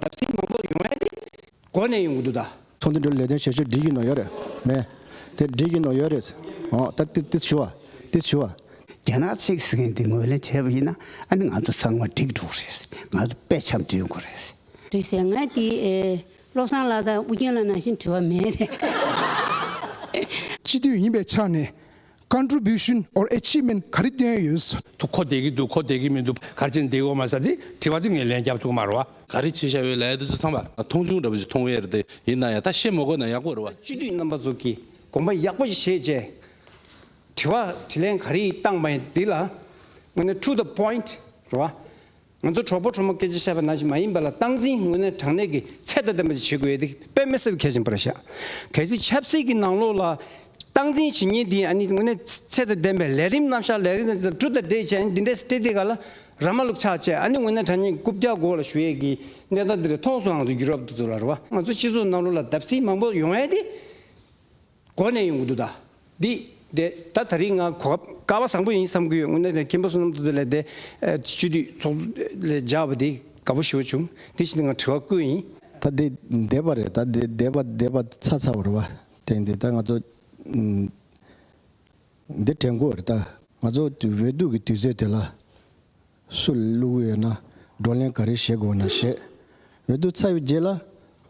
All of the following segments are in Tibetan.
བརྡབ་གསིག་མང་པོ་ཡོང་ཡ་དེ་གོ་ནས་ཡོང་གི་འདུག་ད། ཚོང་འདུ་འདྲ་ལས་དོན་བྱེད་ཕྱིར་འགྲིག་གི་ནོ་ཡོད་རེད་མེད། དེ་འགྲིག་གི་ནོ་ཡོད་རེད། འོ་ད་ཏི་ཏི་ཞུ་བ་ཏི་ཞུ་བ། རྒྱ་ནག་ཚིག་ཟེར་མཁན་དེ་ངོས་ལེན་བྱས་པ་ཡིན་ན་ཨ་ནི་ང་ཚོ་ཚང་མ་འགྲིག་འགྲོ་གི་རེད། ང་ཚོ་དཔེ་ཆ་འདོན་དགོས་རེད། རེད་ཟེར་ང་དེ་བློ་བཟང་ལགས་དང་ཨུ་རྒྱན་ལགས་ནང་བཞིན་དྲི་བ་མེད་རེད། སྤྱི་འཐུས་ཡིན་པའི་ཆ་ནས Contribution or Achievement ག་རེ་བཏོན་ཡོད་ཟེར། དུ་ཁོ་བསྡད་ཀྱི་འདུག་ཁོ་བསྡད་ཀྱི་མི་འདུག་གར་ཅན་བསྡད་འོ་མ་ཟ་དེ་དྲི་བ་དེ་ངས་ལན་རྒྱབ་ཐུག་མ་རོ་བ། ག་རེ་བྱེད་བྱ་ཡོད་ལས་དུ་ཚོད་ཚང་བ། མཐོང་ཆུང་འདྲ་བོ་ཞིག་མཐོང་བས་རེད་དེ་ཡིན་ན་ཡང་ད་བཤད་མ་དགོས་ན་ཡག་པོ་རེད་བ། སྤྱི་འཐུས་རྣམ་པ་ཚོ་གིས་དགོངས་པ་ཡག་པོ་ཞིག་བཞེས་རྗེས། དྲི་བ་དྲི་ལན་ག་རེ་བཏང་བ་ཡིན་འདི་ལ་དངོས་གནས True the Point རེད་བ། ང་ཚོ་གྲོགས་པོ་གྲོགས་མོ་སྐད་ཆ་བཤད་པ་ནང་བཞིན་མ་ཡིན་པ་ལ་སྟངས་འཛིན་དངོས་གནས་དྲང་གནས་ཀྱི་ཚད་དང་ལྡན་པ་ཞིག་བྱེད་དགོས་ཡོད་དེ་དཔེ་མི་གསལ་བའི་ཁྱད་ཅན་པར་བཞག་གལ་སྲིད་ཆབ་སྲིད་ཀྱི་ནང་ལོགས་ལ་སྟངས་འཛིན་བྱེད་ཉེན་དེ་ཡང་ནི་དངོས་གནས་ཚད་དང་ལྡན་པའི་ལས་རིམ་རྣམ་བཞག་ལས་རིམ་དང་དྲུག་དང་འདྲེས་བྱས་ནས་འདི་འདྲས་སྤྲེལ་ལྡེ་ག་ལ་ར་མ་ལུག་ཆགས་བཅས་ཨ་ནི་དངོས་གནས་དྲ་བརྙན་རྐུབ་བཀྱག་མགོ་ལ་གཞུ་ཡས་ཀྱི་གནས་སྟངས་འདི་འདྲས་མཐོང་སོང་ང་ཚོ་རྒྱུ་རབ་ཏུ་རྫོགས་ལ་ར་བ་ང་ཚོ་སྤྱི་ཚོགས་ནང་ལོགས་ལ་བརྡབ་གསིག་མང་པོ་ཡོང་ཡས་དེ། གོ་ནས་ཡོང་གི་འདུག་ད། འདི། དེ་ད་ད་རིང་ང་གོ་སྐབས་དཀའ་བ་བཟང་པོ་ཡིན་བསམ་གི་ཡོད་དངོས་གནས་མཁན་པོ་བསོད་ནམས་དོན་འདུས་ལས་དེ། སྤྱི་འཐུས་ཚོགས་གཙོ་ལས་སྦྱར་བ་འདི་དགའ་པོ་ཞུ་བྱུང་དེ་བཞིན་དུ་ང་དྲི་བ་བཀོད་ཡིན། ད་འདི་འདེད་པ་རེད་ད་འདི་འདེད་པ་འདེད་པ་ཚ་ཚ་བར་བ་དེང་འདི་ད་ང་ཚོ། འདི་དྲན་དགོས་རེད་ད་ང་ཚོ་འོས་བསྡུ་གི་དུས་ཚོད་དེ་ལ། སུ་བླུག་འོས་ན་བགྲོ་གླེང་ག་རེ་བྱེད་དགོས་ན་བྱེད་འོས་དུས་ཚ་བའི་རྗེས་ལ།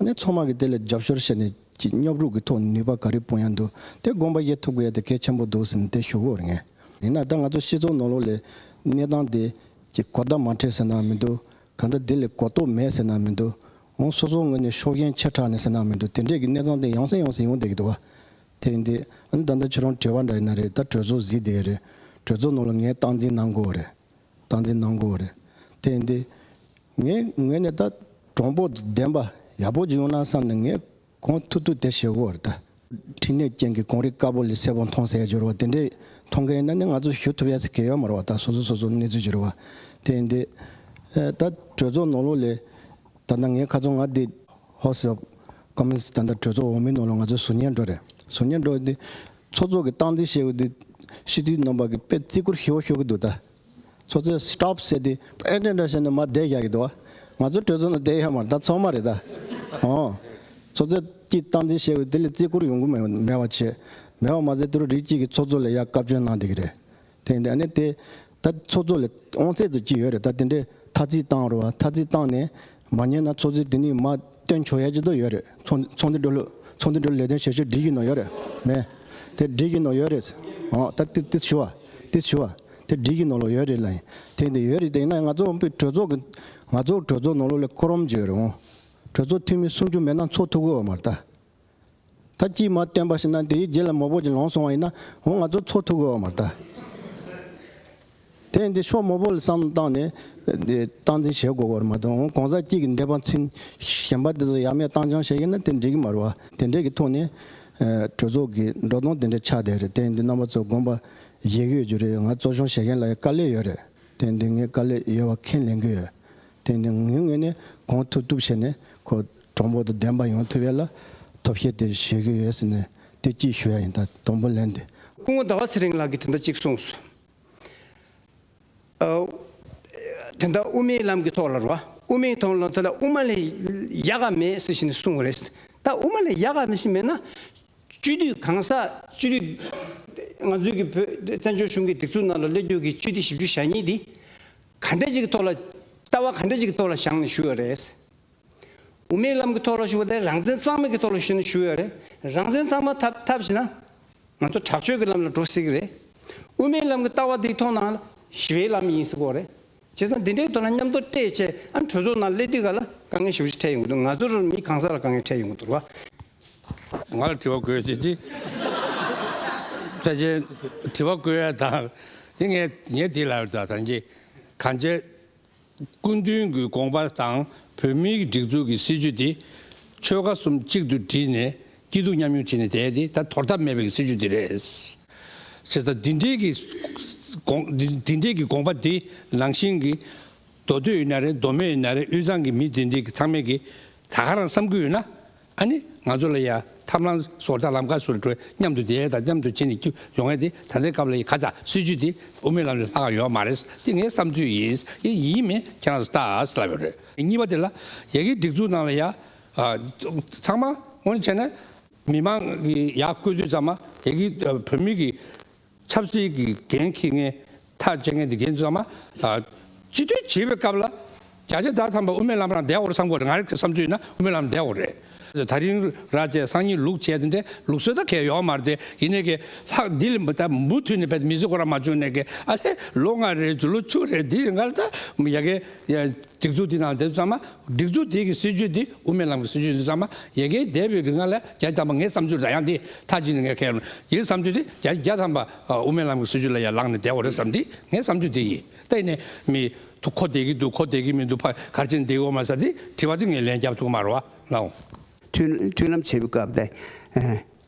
ནས་ཚང་མ་གིས་དེ་ལ་རྒྱབ་སྐྱོར་བྱས་ནས་ཀྱི་སྙོབ་རུག་གི་ཐོག་ནུས་པ་ག་རེ་སྤུངས་ཡ་འདུག་དེ་དགོངས་པ་བཞེས་ཐུབ་དགོས་ཡ་དེ་གལ་ཆེན་པོ་འདུག་ཟེར་ནས་དེ་ཞུ་དགོས་ངེས། ཡིན་ན་ད་ང་ཚོ་སྤྱི་ཚོགས་ནང་ལོག་ལས་གནས་སྟངས་དེ་ཀྱི་གོ་བརྡ་མ་འཕྲད་ཟེར་ནའང་མི་འདུག་གང་ལྟར་དེ་ལས་གོ་རྟོགས་མེད་ཟེར་ནའང་མི་འདུག་འོང་སོ་སོ་ངོས་ནས་ཕྱོགས་ཞེན་ཆེ་དྲགས་ནས་ཟེར་ནའང་མི་འདུག་དེ་འདྲས་ཀྱི་གནས་སྟངས་དེ་ཡོང་ས་ཡོང་ས་ཡོང་བསྡད་ཀྱི་འདུག་བ། དེ་ཡིན་ཏེ། ད་ལྟ་ཁྱེད་རང་བྲེལ་བ་འདྲ་ཡིན་ན་རེད་ད་གྲོས་ཚོགས་བཟི་བསྡད་རེད། གྲོས་ཚོགས་ནང་ལ་ངས་སྟངས་འཛིན་གནང་དགོས་བ་རེད། སྟངས་འཛིན་གནང་དགོས་བ་རེད། དེ་ཡིན་ཏེ། ངས་ངོས་ནས་ད་གྲོང་པོ་བདེན་པ་ཡག་པོ་ཅིག་ཡོང་ན་བསམ་ནས་ངས་གོང་ཐུག་ཐུག་དེ་བྱེད་དགོས་བ་རེད་ད། འཕྲིན་ལས་ཅན་གྱི་གོང་རིས་དཀར་པོ་ལས་གསལ་པོ་མཐོང་གསལ་འགྱུར་བ་དེ་འདྲས་མཐོང་མཁན་ཡིན་ན་ནི་ང་ཚོ་ཞུ་ཐུབ་ཡ་ས་གེ་ཡོད་མ་རེད་བ་ད་སོ་སོ་སོ་སོ་གནས་ཚུལ་འགྱུར་བ་དེ་ཡིན་ཏེ། ད་གྲོས་ཚོགས་ནང་ལོགས་ལས། ད་ལྟ་ངའི་ཁ་ཚོན་ང་འདི། Horse Shop། ཀ་མི་སི་ད་ལྟ་གྲོས་ཚོགས་འོག་མིན་ནོར་ལོག་ང་ཚོའི་ཟུར་ཉན་འགྲོ་རེད་ཟུར་ཉན་འགྲོ་འདི། ཚོགས་གཙོ་གི་སྟངས་འཛིན་བྱེད་དགོས་འདི། སྤྱི་འཐུས་རྣམ་པ་གི་དཔེ་བརྩི་བཀུར་ཧི་བ་ཤོར་གི་འདུག་ད། ཚོགས་གཙོས Stop བྱས་འདི། ཨེ་འདྲ་འདྲ་བྱས་འདི་མ་བསྡད་བཞག་གི་འདུག་བ། ང་ཚོའི་གྲོས་ཚོགས་ནང་བསྡད་ཡ་མ་རེད་ད་ཚོགས་མ་རེད་ད། ཧོ། ཚོགས་གཙོས་ཀྱིས་སྟངས་འཛིན་བྱེད་དགོས་འདི་ལས་བརྩི་བཀུར་ཡོང་གི་མེད་པ་བྱས། མེད་པ་མ་ཟད་འདི་རུ་རིགས་གཅིག་གི་ཚོགས་གཙོ་ལས་ཡག་བཀའ་བཀྱོན་གནང་བསྡད་གི་རེད། དེ་འདྲ་ནི་དེ་ད་ཚོགས་གཙོ་ལས་ཨོང་ཚད་དུ་ཅི་ཡོད་རེད་ད་དེ་འདྲའི་ཐ་ཚིག་བཏང་རོགས་ཐ་ཚིག་བཏང་ནས་མ་ཉན་ན་ཚོགས་གཙོའི་དེ་ནི་མ་སྟོན་ཆོག་ཡ་ཅི་དོ་ཡོད་རེད་ཚོགས་འདུ་འགྲོ་ཚོགས་འདུ་འགྲོ་ལས་དོན་བྱེད་ཕྱོགས་སྒྲིག་གི་ནོ་ཡོད་རེད་མེད་དེ་སྒྲིག་གི་ནོ་ཡོད་རེད་ཨོང་ད་དེ་དེ་ཞུ་བ་དེ་ཞུ་བ་དེ་སྒྲིག་གི་ནོ་ལོ་ཡོད་རེད་ལ་དེ་འདི་ཡོད་རེད་དེ་ཡིན་ན་ང་ཚོ་དབུས་གྲོས་ཚོགས་ཀྱི་ང་ཚོ་གྲོས་ཚོགས་ནོ་ལོ་ལས་ཁོ་རོམ་བརྗོད་རེད་ཨོང་གྲོས་ཚོགས་འཐུས་མི་སུམ་ཅུ་མེད་ན་ཚོགས་འཐུ་དགོས་བ་མ་རེད་ད། ད་ཅིས་མ་བསྟན་པ་ཞིག་ན་དེའི་རྗེས་ལ་མོ་བོ་ཅིག་ལོང་སོང་བ་ཡིན་ན་འོ་ང་ཚོ་འཚོ་ཐུབ་དགོས་བ་མ་རེད། དེ་ཡིན་དུས་ཤོག་མོ་བོ་ལ་བསམ་བློ་བཏང་ནས་སྟངས་འཛིན་བྱེད་དགོས་བར་མ་དོ་འོ་གང་ཟག་གཅིག་གི་འདས་པ་མཚན་གཞན་པ་དེ་ཚོ་ཡ་མེད་བཏང་སྦྱང་བྱེད་ཀྱི་ན་དེ་འགྲིག་གི་མ་རེད་བ་དེ་འདྲས་ཀྱི་ཐོག་ནས་གྲོས་ཚོགས་ཀྱི་འགྲོ་སྟངས་དེ་འདྲས་ཆགས་བསྡད་རེད་དེ་ཡིན་དུས་རྣམ་པ་ཚོ་དགོངས་པ་བཞེས་གི་ཡོད་རྒྱུ་རེད་ང་གཙོ་སྐྱོང་བྱེད་མཁན་ལ་ཡང་དཀའ་ལས་ཡོད་རེད་དེ་ཡིན་དུས་ངས་དཀའ་ལས་ཡོད་བ་ཁས་ལེན་གི་ཡོད་དོན་དུ་ངའི་ངོས་ནས་གང་ཐུབ་ཐུབ་བྱས་ནས་ཁོ་གྲོགས་འབོར་དུ་བདེན་པ་ཡོང་ཐུབ་ཡོད་ལ། ཐོབ་བཤད་དེ་བྱེད་གི་ཡོད་ཟེར་ནས་བལྟས་སྐྱིད་ཞུ་ཡ་ཡིན་ད་དང་པོ་ལན་དེ། སྐུ་ངོ་ཟླ་བ་ཚེ་རིང་ལགས་ཀྱིས་དེ་འདྲ་གཅིག་གསུངས་སོང། དེ་འདྲ་དབུ་མའི་ལམ་གྱི་ཐོག་ལ་རུང་བ་དབུ་མའི་ཐོག་ལ་དབུ་མ་ལས་ཡག་ག་མེད་ཟེར་བཞིན་གསུངས་བ་རེད། ད་དབུ་མ་ལས་ཡག་ག་མེད་ཞིག་མེད་ན། སྤྱི་འཐུས་གང་ཟག་སྤྱི་འཐུས་ང་ཚོའི་གི་བོད་བཙན་བྱོལ་གཞུང་གི་སྒྲིག་འཛུགས་ནང་ལ་སླེབས་རྒྱུ་གི་སྤྱི་འཐུས་བཞི་བཅུ་ཞག་གཉིས་དེ། ག་འདྲ་ཞིག་གི་ཐོག་ལ། ལྟ་བ་ག་འདྲ་ཞིག་གི་ཐོག་ལ་བཞག་ནས་ཞུ་ཡོད་རེད། དབུ་མའི་ལམ་གྱི་ཐོག་ལ་ཞུ་བ་དེ་རང་བཙན་གཙང་མ་གི་ཐོག་ལ་ཞུ་ནས་ཞུ་ཡོད་རེད། རང་བཙན་གཙང་མ་ཐབས་ཐབས་བྱེད་ན། ང་ཚོ་དྲག་སྤྱོད་ཀྱི་ལམ་ལ་འགྲོ་སྲིད་ཀྱི་རེད། དབུ་མའི་ལམ་གྱི་ལྟ་བ་དེའི་ཐོག་ན། ཞི་བའི་ལམ་ཡིན་སྲིད་སྐོར་རེད། བྱས་ཙང་འདི་འདྲའི་ཐོག་ན་མཉམ་དུ་སྤྲད་ཆེད་ཨ་གྲོས་ཚོགས་ནང་སླེབས་དུས་ག་ལ་དཀའ་ངལ་ཞུ་བཞི་འཕྲད་ཡོང་གི་འདུག་ང་ཚོར་མི་གང་ས་ལ་དཀའ་ངལ་འཕྲད་ཡོང་གི་འདུག་བ། ང་ལ་དྲི་བ་དགོས་ཞེས་དྲིས། ལྷས་བྱིན། དྲི་བ་དགོས་ཡ་དང། དེ་ངས་ངས་དེ་ལ་ད་ཐང་གྱིས། གང་བྱས། སྐུ་མདུན་གྱི་དགོངས་པ་དང་བོད་མིའི་སྒྲིག་འཛུགས་ཀྱི་སྲིད་བྱུས་འདི། ཆོལ་ཁ་གསུམ་གཅིག་ཏུ་བསྒྲིལ་ནས་སྐྱིད་སྡུག་མཉམ་མྱོང་བྱེད་ནས་བསྡད་དེ་ད་དོར་ཐབས་མེད་པའི་སྲིད་བྱུས་འདི་རེད། བྱས་ཙང་འདི་འདྲིའི་གི་འདི་འདྲིའི་གི་དགོངས་པ་འདི་ནང་བཞིན་གྱི། མདོ་སྟོད་ཡིན་ན་རེད་མདོ་སྨད་ཡིན་ན་རེད་དབུས་གཙང་གི་མི་འདི་འདྲིའི་གི་ཚང་མས་གི། ད་ཁ་རང་བསམ་ཁུལ་ཡོད་ན། ཨ་ནི་ང་ཚོ་ལ་ཡང་ཐབས་ལམ་སོགས་ཐབས་ལམ་ཁ་སོ་རེ་བྲོས་མཉམ་དུ་བསྡད་དང་མཉམ་དུ་བྱེད་ནས་ཀྱི་ཡོང་ཡས་དེ་ད་ལྟའི་སྐབས་ལ་ཡི་ག་ཙང་སྲིད་བྱུས་དེ་དབུ་མའི་ལམ་ལས་ལྷག་ཡོད་མ་རེད་དེ་ངའི་བསམ་ཚུལ་ཡིན་ཡས་ཡིན་མིན་ཁྱེད་རང་ཚོ་ལྟ་ལབ་ཡོད་རེད། གཉིས་པ་དེ་ལ་ཡ་གི་སྒྲིག་འཛུགས་ནང་ལ་ཡ་ཚང་མ་ངོ་ནས་བྱས་ན་མི་མང་གི་ཡ་བཀོད་དུས་ཙང་མ་ཡ་གི་བོད་མི་གི། ཆབ་སྲིད་ཀྱི་འགན་འཁྱེར་མཁན་ཐག་བཅད་མཁན་དགེ་འདུན་ཚང་མ། སྤྱི་འཐུས་བྱེད་པའི་སྐབས་ལ། རྒྱ་ཆེ་ད་ཚང་པ་དབུ་མའི་ལམ་རང་བདེ་བོར་བསམ་དགོས་རེད་ང་རིག་བསམ་ཚུལ་ན་དབུ་མའི་ལམ་བདེ་བོ་རེད། ད་རིང་ར་བཅས་སང་ཉིན་ལུགས་བྱས་ཏེ་འདྲེ་ལུགས་སོད་ད་གས་ཡོག་མ་རེད་ཡིན་ནའི་གས་ལྷག་འདི་ལ་འབུ་ད་འབུ་དུས་ནས་བས་མི་ཟི་གོ་ར་མ་བྱུང་ནའི་གས་ཨ་ལྷས་ལོ་ལྔ་རེད་བྱུང་ལོ་བཅུ་རེད་འདི་རེད་འགའ་རེ་ད་ཡ་གས་ཡ་སྒྲིག་འཛུགས་འདི་དང་འདི་ཚང་མ་སྒྲིག་འཛུགས་དེ་གི་སྲིད་ཇུས་འདི་དབུ་མའི་ལམ་གི་སྲིད་ཇུས་འདི་ཚང་མ་རྒྱལ་ཁའི་འདས་པའི་རིག་སྔགས་ལས་རྒྱ་བསྐྱངས་པ་ངའི་བསམ་ཚུལ་རེད་ཡང་འདི་མཐའ་གཅིག་ནས་ངས་ཁས་ལེན། ཡིན་བསམ་ཚུལ་དེ་རྒྱ་རྒྱ་ཚང་པ་དབུ་མའི་ལམ་གི་སྲིད་ཇུས་ལ་ཡང་ལངས་ནས་བསྡད་འོ་རེད་བསམ་འདི་ངའི་བསམ་ཚུལ་དེ་ཡིན། གཏན་ནས་མི་འདུག་ཁོ་བསྡད་ཀྱི་འདུག་ཁོ་བསྡད་ཀྱི་མི་འདུག་ཕ་གར་ཕྱིན་འདི་འོ་མ་ཟ་འདི་བྲིས་པ་འདི་ངས་ལན་རྒྱབ་ཐུག་མ་རེད་བ་ལང། མཐུན་ལམ་བྱེད་པའི་སྐབས་དེ།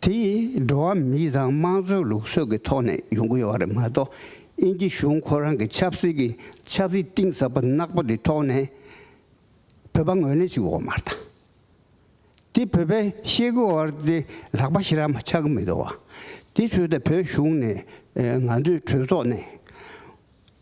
དེ་འགྲོ་བ་མི་དང་དམངས་གཙོའི་ལུགས་སྲོལ་གྱི་ཐོག་ནས་ཡོང་གི་ཡོད་པ་རེད་མ་གཏོགས་དབྱིན་ཇི་གཞུང་ཁོ་རང་གི་ཆབ་སྲིད་ཀྱི་ཆབ་སྲིད་གཏིང་ཟབ་པ་ནག་པོ་དེ་ཐོག་ནས་བོད་པ་ངོས་ལེན་བྱེད་འོག་མར་དང། དེ་བོད་པས་ཤེས་གི་འོག་དེ་ལག་པ་ཞི་རག་མ་ཆག་གི་མི་འདུག་བ། དེ་ཚོས་ད་བོད་གཞུང་ནས་ང་ཚོའི་གྲོས་ཚོགས་ནས།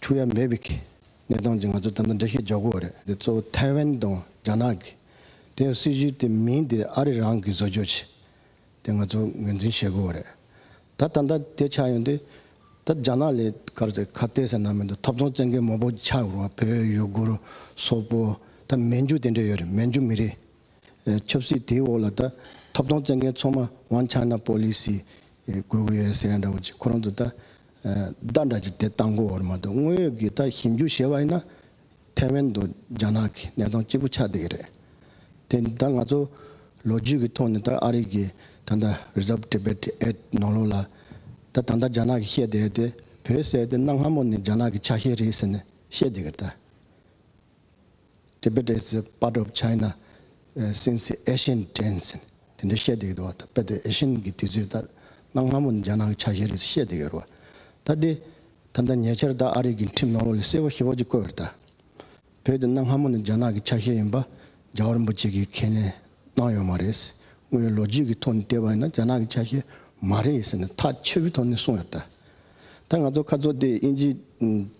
འཁྲུག་ཡ་མེད་པའི་གནས་སྟངས་ཀྱི་ང་ཚོ་དམ་པ་འདྲེ་ཤེས་རྒྱག་དགོས་བ་རེད། དེ་གཙོ་བོ་ཐའེ་ཝན་དང་རྒྱ་ནག་གི། དེ་ཡང་སྲིད་བྱུས་དེ་མིན་དེ་ཨ་རི་རང་གི་བཟོ་བཅོས་ཆེད་དེ་ང་ཚོ་ངོས་འཛིན་བྱེད་དགོས་བ་རེད། ད་ད་ལྟ་དེ་ཆགས་ཡོང་དུས། ད་རྒྱ་ནག་ལས་ཀར་ཚེ་ཁ་བལྟས་ཟེར་ནང་མི་འདུག་ཐོབ་ཚང་བཙན་རྒོལ་མང་པོ་ཆགས་ཡོང་བ་བོད་ཡུ་གུར་སོག་པོ་ད་མན་ཇུ་དེ་འདྲས་ཡོད་རེད་མན་ཇུ་མི་རིགས་ཆབ་སྲིད་དེའི་འོག་ལ་ད་ཐོབ་ཚང་བཙན་རྒན་ཚང་མ One China Policy དགོས་གི་ཡོད་ཟེར་ཡ་འདྲ་བོ་ཅིག་ཁོ་རང་ཚོ་ད། བདག་འདྲ་གཅིག་དེ་ལྟ་མགོ་བོར་མ་འདུག་དངོས་ཡོད་ཀྱི་ལྟ་ཞིབ་འཇུག་བྱེད་པ་ཡིན་ན། ཐའེ་ཝན་དུ་རྒྱ་ནག་གི་གནས་སྟངས་གཅིག་པུ་ཆགས་བསྡད་ཀྱི་རེད། དེ་ད་ང་ཚོ་ལོ་རྒྱུས་ཀྱི་ཐོག་ནས་ད་ཨ་རིག་གི་ད་ལྟ Reserve Tibet Act ནང་ལོགས་ལ། ད་ད་ལྟ་རྒྱ་ནག་གི་བཤད་བསྡད་དེ་བོད་བསད་དེ་གནའ་སྔ་མོ་ནས་རྒྱ་ནག་གི་ཆ་ཤས་རེད་ཟེར་ནས་བཤད་བསྡད་ཀྱི་རེད་ད། Tibetes is part of China since ancient times དེ་འདྲ་བཤད་འདུག་གདའ། དཔེར་ན་ཨེ་ཤེ་ཡན་གྱི་དུས་ཚོད་ལྟར་གནའ་སྔ་མོ་ནི་རྒྱ་ནག་གི་ཆ་ཤས་རེད་ཅེས་བཤད་འདུག་གདའ། ད་ལྟའི་ད་ལྟ་ཉེ་ཆར་དག་ཨ་རིག་གི་འཁྲིམས་ནང་ལོ་ལེགས་གསལ་བོ་ཞེས་བོད་ཀྱིས་བཀོད་པར་གདའ། བོད་དུ་གནའ་སྔ་མོ་ནི་རྒྱ་ནག་གི་ཆ་ཤས་ཡིན་པ་རྒྱ་བ་རིན་པོ་ཆེ་གིས་ཁས་ལེན་གནང་ཡོད་མ་རེད། དངོས་ཡོད་ལོ་རྒྱུས་ཀྱི་ཐོག་ནས་བལྟས་པ་ཡིན་ན་རྒྱ་ནག་གི་ཆ་ཤས་མ་རེད་ཟེར་ནས་ཐག་ཆོད་པོའི་ཐོག་ནས་གསུངས་ཡོད་གདའ། ད་ང་ཚོ་ཁ་ཚོགས་དེ་དབྱིན་ཇིའི་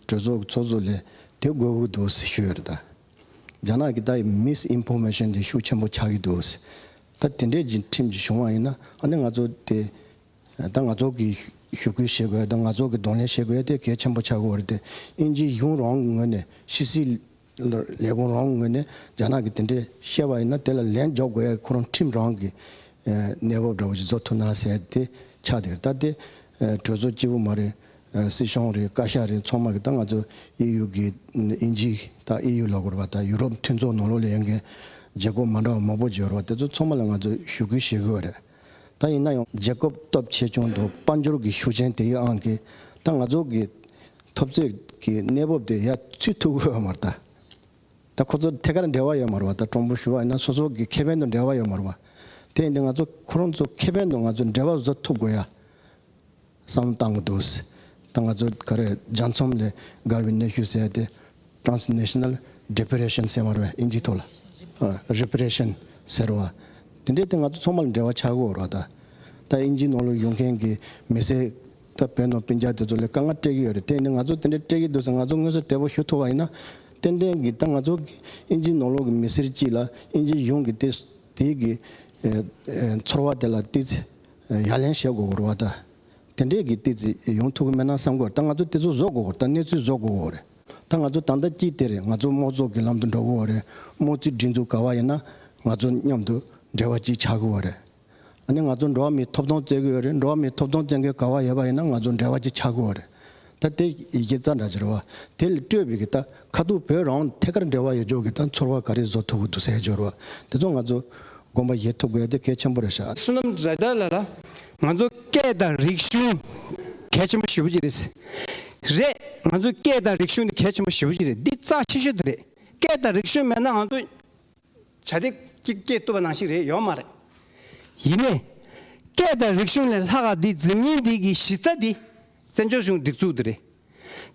གྲོས་ཚོགས་ཀྱི་ཚོགས་གཙོ་ལས་དེ་དགོས་ཀྱི་འདུག་ཞུས་རེད་ད། རྒྱ་ནག་གི་ད་ཡི་མིས་ཨིན་ཕོ་མེ་ཤོན་དེ་ཤུགས་ཆེན་པོ་ཆགས་ཀྱི་འདུག་ད་དེ་འདྲས་ཀྱི་ཁྲིམས་ཀྱི་བྱུང་བ་ཡིན་ན་ཨ་ནི་ང་ཚོ་དེ་ད་ང་ཚོ་གི་ཞུ་སྐུལ་བྱེད་དགོས་ད་ང་ཚོ་གི་གདོང་ལེན་བྱེད་དགོས་དེ་གལ་ཆེན་པོ་ཆགས་ཀྱི་འོ་རེད་དེ་དབྱིན་ཇིའི་གཞུང་རོང་གི་ངོས་ནས་ཤི་སིའི་ལས་ཁོང་རང་ངོས་ནས་རྒྱ་ནག་གིས་དེ་འདྲའི་བཤད་པ་ཡིན་ན་དེ་ལ་ལན་འཇོག་དགོས་ཡ་ཁོ་རང་ཁྲིམས་རང་གི་གནས་བབ་འདྲ་བོ་ཞིག་བཟོ་ཐུབ་ན་ཟེར་ཏེ་ཆ་དེར་ལྟ་སྟེ། གྲོས་ཚོགས་སྤྱི་བོ་མ་རེད། སྲིད་གཞུང་རེད་བཀའ་ཤག་རེད་ཚང་མ་གིས་ད་ང་ཚོ་ཨི་ཡུ་གི་ཨིན་ཇི་ད་ཨི་ཡུ་ལ་གོ་རེ་བ་ད་ཡུ་རོབ་མཐུན་ཚོགས་ནང་ལོགས་ལས་ཡོད་མཁན་བརྗེ་སྒོ་མ་འདྲ་བ་མང་པོ་བརྗེ་རེ་བ་དེ་ཚོ་ཚང་མ་ལ་ང་ཚོ་ཞུ་སྐུལ་བྱེད་དགོས་རེད། ད་ཡིན་ན་ཡང་རྗེ་སྐུ་སྟོབས་ཆེ་ཆུང་དང་དཔའ་འབྱོར་གྱི་ཤུགས་ཆེན་དེ་ཡོད་ཨང་ཀི། ད་ང་ཚོ་གི་ཐོབ་རྩོད་ཀྱི་གནས་བབ་དེ་ཡ་ཚུད་ཐུབ་གི་ཡོད་མ་རེད། ད་ཁོ་ཚོ་ཐད་ཀར་འབྲེལ་བ་ཡོད་མ་རེད་བ། ད་གྲོང་པོ་ཞུ་བ་ཡིན་ན་སོ་སོ་གི་ཁེ་ཕན་དང་འབྲེལ་བ་ཡོད་མ་རེད་བ། དེ་ཡིན་དུས་ང་ཚོ་ཁོ་རང་ཚོ་ཁེ་ཕན་དང་ང་ཚོ་འབྲེལ་བ་བཟོ་ཐུབ་དགོས་ཡ། བསམ་བཏང་གི་འདུག་སྲིད་ད་ང་ཚོ་ག་རེ་རྒྱ་འཚོམ་ལས་དགའ་བའི་གནས་ཤུལ་ཟེར་ཏེ། Transnational Depression ཟེར་བར་བས་ཨིན་ཇིའི་ཐོག་ལ། Repression། ཟེར་བ། དེ་འདྲའི་དེ་ང་ཚོ་ཚོང་པ་ལ་འབྲེལ་བ་ཆགས་ཀྱི་འོར་བ་ད། ད་ཨིན་ཇིའི་ནང་ལ་ཡོང་མཁན་གྱི་མི་སེར། ད་བོད་ནང་བོན་རྒྱ་དེ་ཚོ་ལས་དཀའ་ངལ་སྤྲད་ཀྱི་ཡོད་རེད་དེ་ནི་ང་ཚོ་དེ་འདྲའི་སྤྲད་ཀྱི་འདུག་ཟེར་ང་ཚོ་དངོས་སུ་དལ་པོ་ཞུ་ཐུབ་བ་ཡིན་ན། ཏན་ཏན་གྱི་ད་ང་ཚོ་གི་ཨིན་ཇིའི་ནང་ལོག་གི་མི་སེར་གྱིས་ལ་ཨིན་ཇིའི་གཞུང་གི་དེ་དེའི་གི། ཚོར་བ་དེ་ལ་བལྟས་ཚེ། ཡ་ལན་བཤད་དགོས་གོ་རེ་བ་ད། དེ་འདྲས་ཀྱི་ཏི་ཙི་ཡོང་ཐུག་གི་མེད་ན་བསམ་གོ་རེ་ད་ང་ཚོ་དེ་ཚོ་བཟོ་དགོས་གོ་རེ་ད་གནས་ཚུལ་བཟོ་དགོས་གོ་རེ། ད་ང་ཚོ་ད་ལྟ་ཅི་སྟེ་རེ་ང་ཚོ་དམོ་ཚོགས་ཀྱི་ལམ་དུ་འགྲོ་གོ་རེ་དམོ་ཚིག་སྒྲིག་འཛུགས་ག་བ་ཡིན་ན་ང་ཚོ་མཉམ་དུ་འབྲེལ་བ་ཅིག་ཆགས་གོ་རེ། ཨ་ནི་ང་ཚོ་འགྲོ་བ་མིའི་ཐོབ་ཐོང་བཙལ་གི་ཡོད་རེ་འགྲོ་བ་མིའི་ཐོབ་ཐོང་བཙན་གི་ག་བ་ཡོད་པ་ཡིན་ན་ང་ཚོ་འབྲེལ་བ་ཅིག་ཆགས་གོ་རེ། ད་དེ་ཡི་གེ་རྩ་འདྲ་སྦྱར་བ། དེ་ལ་སྤྲོས་པའི་གི་ད་ཁ་ཐུག་བོད་རང་ཐད་ཀར་འབྲེལ་བ་ཡོད་འཇོག་གི་ད་ཚོར་བ་ག་རེ་བཟོ་ཐུབ་བོ་འདུག་ཟེར་སྦྱོར་བ་དེ་ཚོ་ང་ཚོ་དགོངས་པ་བཞེས་ཐུབ་དགོས་དེ་གལ་ཆེན་པོ་རེད་ཤག། བསོད་ནམས་རེ་ད་ལ་ལ། ང་ཚོ་སྐད་དང་རིག་གཞུང་གལ་ཆེན་པོ་ཞེ་བོ་གཅིག་རེད། རེད། ང་ཚོ་སྐད་དང་རིག་གཞུང་དེ་གལ་ཆེན་པོ་ཞེ་བོ་གཅིག་རེད་འདི་རྩ་ཆེ་ཤོས་དེ་རེད་སྐད་དང་རིག་གཞུང་མེད་ན་ང་ཚོ། བྱ་སྟེ། ཅིག་སྐྱེས་བཏུབ་པ་ནང་བཞིན་རེད་ཡོད་མ་རེད། ཡིན་ནས། སྐད་དང་རིག་གཞུང་ལས་ལྷག་ག་འདི་འཛིན་མིན་འདི་གི་གཞི་རྩ་འདི། བཙན་བྱོལ་གཞུང་སྒྲིག་འཛུགས་འདི་རེད།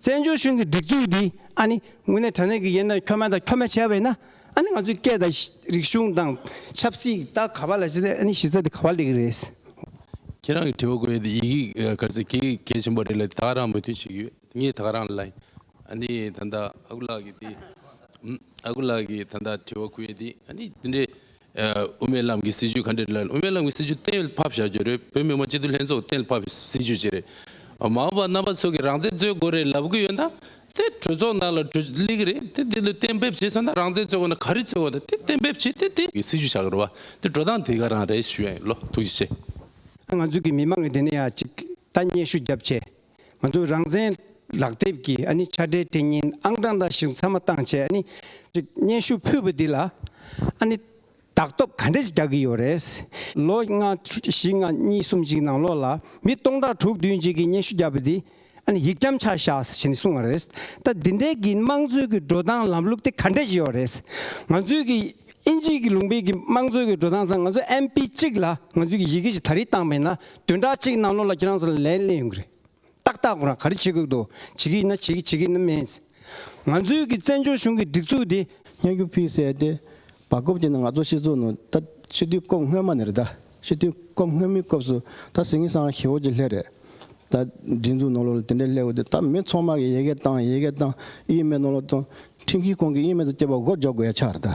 བཙན་བྱོལ་གཞུང་གི་སྒྲིག་འཛུགས་འདི་ཨ་ནི་དངོས་གནས་དྲ་གནས་ཀྱི་ཡན་དང་ཁྱོ་མ་དང་ཁྱོ་མ་བྱས་བས་ན་ཨ་ནི་ང་ཚོའི་སྐད་དང་རིག་གཞུང་དང་ཆབ་སྲིད་ད་ག་པ་ལ་བྱས་ཏེ་ཨ་ནི་གཞི་རྩ་འདི་ག་པ་ལས་གི་རེད། ཁྱེད་རང་གི་དྲི་བ་གོ་ཡོད་དེ་ཡི་གེ་ག་ཚོད་གལ་ཆེན་པོ་རེད་ལ་དེ་དག་རང་མོས་མཐུན་བྱེད་ཀྱི་ཡོད། ངས་ཐག་རང་ལ་ནི་ད་ལྟ་ཨ་ཁུ་ལགས་ཀྱིས་དེ་ཨ་ཁུ་ལགས་ཀྱིས་ད་ལྟ་དྲི་བ་ཁུར་ཡོད་དེ་འདི་འདྲའི་དབུ་མའི་ལམ་གྱི་སྲིད་ཇུས་ག་འདྲ་རེད་ལབ་དབུ་མའི་ལམ་གྱི་སྲིད་ཇུས་གཏན་ལ་ཕབ་བཞག་རྒྱུ་རེད་བོད་མི་མང་སྤྱི་འཐུས་ལྷན་ཚོགས་གཏན་ལ་ཕབ་པའི་སྲིད་ཇུས་ཅིག་རེད། མ་འོངས་པར་རྣམ་པ་ཚོ་གིས་རང་བཙན་རྩོད་དགོས་རེད་ལབ་གི་ཡོད་ན་དེ་གྲོས་ཚོགས་ནང་ལ་གྲོས་གླེང་གི་རེད་དེ་དེ་ལ་གཏན་འབེབས་བྱས་ཚར་ན་རང་བཙན་རྩོད་དགོས་ན་ག་རེ་རྩོད་དགོས་ད་དེ་གཏན་འབེབས་བྱས་ཏེ་དེ་སྲིད་ཇུས་བྱ་གི་རེད་བ་དེ་འགྲོ་སྟངས་དེ་ག་རང་རེད་ཞུ་ཡ་ཡིན་ལོ་ཐུགས་རྗེ་ཆེ། ང་ཚོ་གི་མི་མང་གི་དེ་ནས་ཡ་གཅིག་ལྟ་སྙད་ཤུགས་རྒྱབ་ཆེ། ང་ཚོས་རང་བཙན་ལག་དེབ་ཀྱི་ཨ་ནི་ཆ་འཕྲིན་དེ་ཉིན་ཨང་གྲངས་འདང་ཞིག་མཚམས་མ་བཏང་ཆེད་ཨ་ནི་སྙན་ཞུ་ཕུལ་བ་འདི་ལ་ཨ་ནི་དག་ཐོབ་ག་འདྲ་ཞིག་རྒྱག་གི་ཡོད་རེད། ལོ་ལྔ། བཞི་ལྔ་གཉིས་གསུམ་ཅིག་ནང་ལོགས་ལ་མི་སྟོང་ཕྲག་དྲུག་བདུན་ཅིག་གིས་སྙན་ཞུ་བརྒྱབ་པ་འདི་ཨ་ནི་ཡིག་སྐྱམ་ཆག་བཞག་ཟེར་བཞིན་གསུངས་བ་རེད། ད་འདི་འདྲའི་གི་དམངས་གཙོའི་གི་འགྲོ་སྟངས་ལམ་ལུགས་དེ་ག་འདྲ་ཞིག་ཡོད་རེད། ང་ཚོའི་གི་ཨིན་ཇིའི་གི་ལུང་པའི་གི་དམངས་གཙོའི་གི་འགྲོ་སྟངས་དང་ང་ཚོ་ཨེམ་པི་གཅིག་ལ་ང་ཚོའི་གི་ཡི་གེ་ཞིག་ད་རིས་བཏང་མེད་ན་དོན་དག་ཅིག་གནང་ལོ་ལ་ཁྱེད་རང་ཚོ་ལ་ལན་གླེང་ཡོང་གི་རེད། ཏག་ཏག་ཁོ་རང་ག་རེ་བྱེད་དགོས་འདུག་བྱེད་ཀྱི་ཡིན་ན་བྱེད་ཀྱི་བྱེད་ཀྱི་ནི་མེད། ང་ཚོའི་གི་བཙན་བྱོལ་གཞུང་གི་སྒྲིག་འཛུགས་འདི། སྙན་རྒྱུད་ཕུལ་གསལ་ཏེ། བར་སྐབས་ཀྱི་ནང་ང་ཚོ་སྤྱི་ཚོགས་ནང་ད་སྤྱི་མཐུས་སྐོབས་སྔོན་མ་ནས་རེད་ད། སྤྱི་མཐུས་སྐོབས་སྔོན་མི་སྐོབས་སུ་ད་ཟིང་ངེ་སང་ཧེ་བོ་ཀྱི་ལྷད་རེད། ད་སྒྲིག་འཛུགས་ནང་ལོ་ལ་དེ་འདྲའི་ལྷད་དགོས་དུས་ད་མི་ཚོགས་མ་གི་ཡེ་གེ་བཏང་ཡེ་གེ་བཏང་དབྱིན་མེད་ནང་ལོ་བཏང། ཁྲིམས་ཁིས་ཁོང་གི་དབྱིན་མེད་དུ་སྐྱེས་པ་མགོ་འཇོག་དགོས་ཡ་ཆགས་རེད་ད།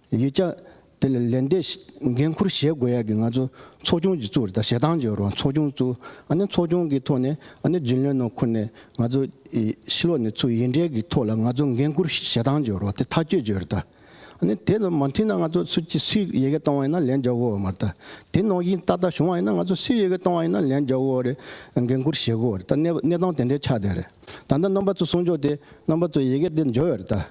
ཡིག་ཆ་དེ་ལ་ལན་འདེབས་འགན་འཁུར་བཞེས་དགོས་ཡ་གི་ང་ཚོ་ཚོགས་ཆུང་གཅིག་བཙུགས་རེད་ད་ཞེ་སྡང་བྱེད་རོགས་ཚོགས་ཆུང་བཙུགས་ཨ་ནི་ཚོགས་ཆུང་གི་ཐོག་ནས་ཨ་ནི་རྗེ་བློན་ནོར་འཁོར་ནས་ང་ཚོ་ཕྱི་ལོགས་ནས་ཚུགས་ཡིན་འདྲའི་གི་ཐོག་ལ་ང་ཚོ་འགན་འཁུར་བཞེས་སྡང་བྱེད་རོགས་དེ་ཐག་གཅོད་བྱོས་རེད་ད་ཨ་ནི་དེ་ལ་མ་མཐུན་ན་ང་ཚོ་སུ་གཅིག་སུས་ཡི་གེ་གཏོང་བ་ཡིན་ན་ལན་རྒྱག་འོ་མ་རེད་ད་དེ་ནོག་གིན་ཏག་ཏག་བྱུང་བ་ཡིན་ན་ང་ཚོ་སུས་ཡི་གེ་གཏོང་བ་ཡིན་ན་ལན་རྒྱག་འོ་རེད་འགན་འཁུར་བཞེས་དགོས་རེད་ད་གནས་སྟངས་དེ་འདྲའི་ཆགས་བསྡད་རེད་ད་ལྟ་རྣམ་པ་ཚོ་གསུང་ཆོག་དེ་རྣམ་པ་ཚོ་ཡི་གེ་དེ་འབྱོར་ཡོད་རེད་ད།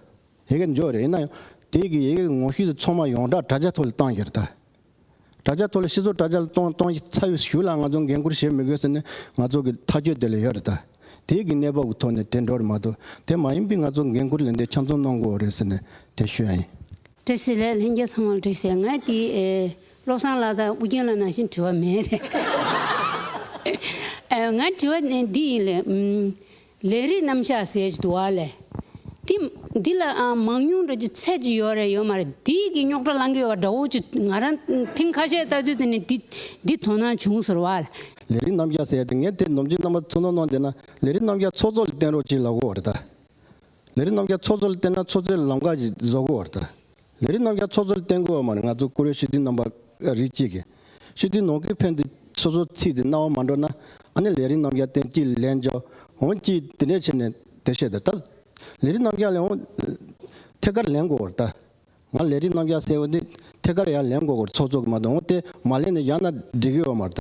ཡི་གེ་འབྱོར་རེད་ཡིན་ན་ཡང་དེ་གི་ཡི་གེ་གི་ངོ་བཤུས་དེ་ཚོང་མ་ཡོངས་གྲགས་དྲ་རྒྱ་ཐོག་ལ་གཏང་རྒྱུ་རེད་དྲ་རྒྱ་ཐོག་ལ་ཤི་ཚོ་དྲ་རྒྱ་ལ་གཏོང་གཏོང་གི་ཚ་བས་ཞུ་ལ་ང་ཚོ་འགན་ཁུར་བཞེས་མི་དགོས་ཟེར་ནས་ང་ཚོ་གི་ཐག་གཅོད་དེ་ལ་ཡོད་རེད་དྲ་དེ་གི་གནས་བབ་གི་ཐོག་ནས་དེ་འགྲོ་རེད་མ་གཏོགས་དེ་མ་ཡིན་པའི་ང་ཚོ་འགན་ཁུར་ལས་འདས་འཁྱམ་ཚོང་གནང་དགོས་རེད་ཟེར་ནས་དེ་ཞུ་ཡ་ཡིན། བཀྲ་ཤིས་ལས་ལྷན་རྒྱས་ཚང་མ་ལ་དྲིས་ཟེར་ང་དེ་བློ་བཟང་ལགས་དང་ཨུ་རྒྱན་ལ་ནང་བཞིན་དྲི་བ་མེད་རེད། ང་དྲི་བ་འདི་ཡིན་ལེ། ལས་རིགས་རྣམ་གཞག་ཟས་ཀྱི་དུ་བ་ལས། དེ། འདི་ལ་ཨང་མང་ཉུང་འདྲ་ཅི་ཚད་ཅི་ཡོད་རེ་ཡོད་མ་རེད་དེ་ཡིག་གི་རྙོག་དྲ་ལང་གི་ཡོད་བ་འདྲ་བོ་ཅི་ང་རང་ཐེངས་ཁ་ཤས་ལྟ་དུས་དེ་ནས་འདི་འདི་དོ་སྣང་བྱུང་ཟེར་བ་ལ། ལས་རིགས་རྣམ་གཞག་ཟས་དེ་ངས་དེ་ནོམ་ཅིག་རྣམ་པ་ཚོ་ནོ་ནོ་འདི་ན་ལས་རིགས་རྣམ་གཞག་ཚོགས་གཙོ་ལ་བསྟན་རོགས་ཅིག་ལབ་གོ་རེ་ད། ལས་རིགས་རྣམ་གཞག་ཚོགས་གཙོ་ལ་བསྟན་ན་ཚོགས་གཙོའི་ལམ་ཁ་ཅིག་བཟོ་གོ་རེ་ད། ལས་རིགས་རྣམ་རྒྱལ་ཚོགས་གཙོར་བསྟེན་དགོས་བ་མ་རེད་ང་ཚོ་ཀུ་རེ་ཤི་ཏིན་རྣམ་པ་རིགས་གཅིག་གི་ཤི་ཏིན་ནོ་ཀི་ཕན་དེ་སོ་སོ་ཚིག་དེ་རྣ་བ་མ་འགྲོ་ན་ཨ་ནེ་ལས་རིགས་རྣམ་རྒྱལ་བསྟེན་སྐྱིད་ལན་འཇོ་འོང་སྐྱིད་དེ་འདྲས་བྱེད་ནས་དེ་བཤད་དེ་ད་ལས་རིགས་རྣམ་རྒྱལ་ལས་འོང་ཐད་ཀར་ལན་དགོས་བར་ད་ང་ལས་རིགས་རྣམ་རྒྱལ་སེ་འོང་དེ་ཐད་ཀར་ཡང་ལན་དགོས་བར་ཚོགས་གཙོ་གི་མ་དོ་འོང་དེ་མ་ལན་ནས་ཡང་ན་འགྲིག་གི་འོང་མར་ད།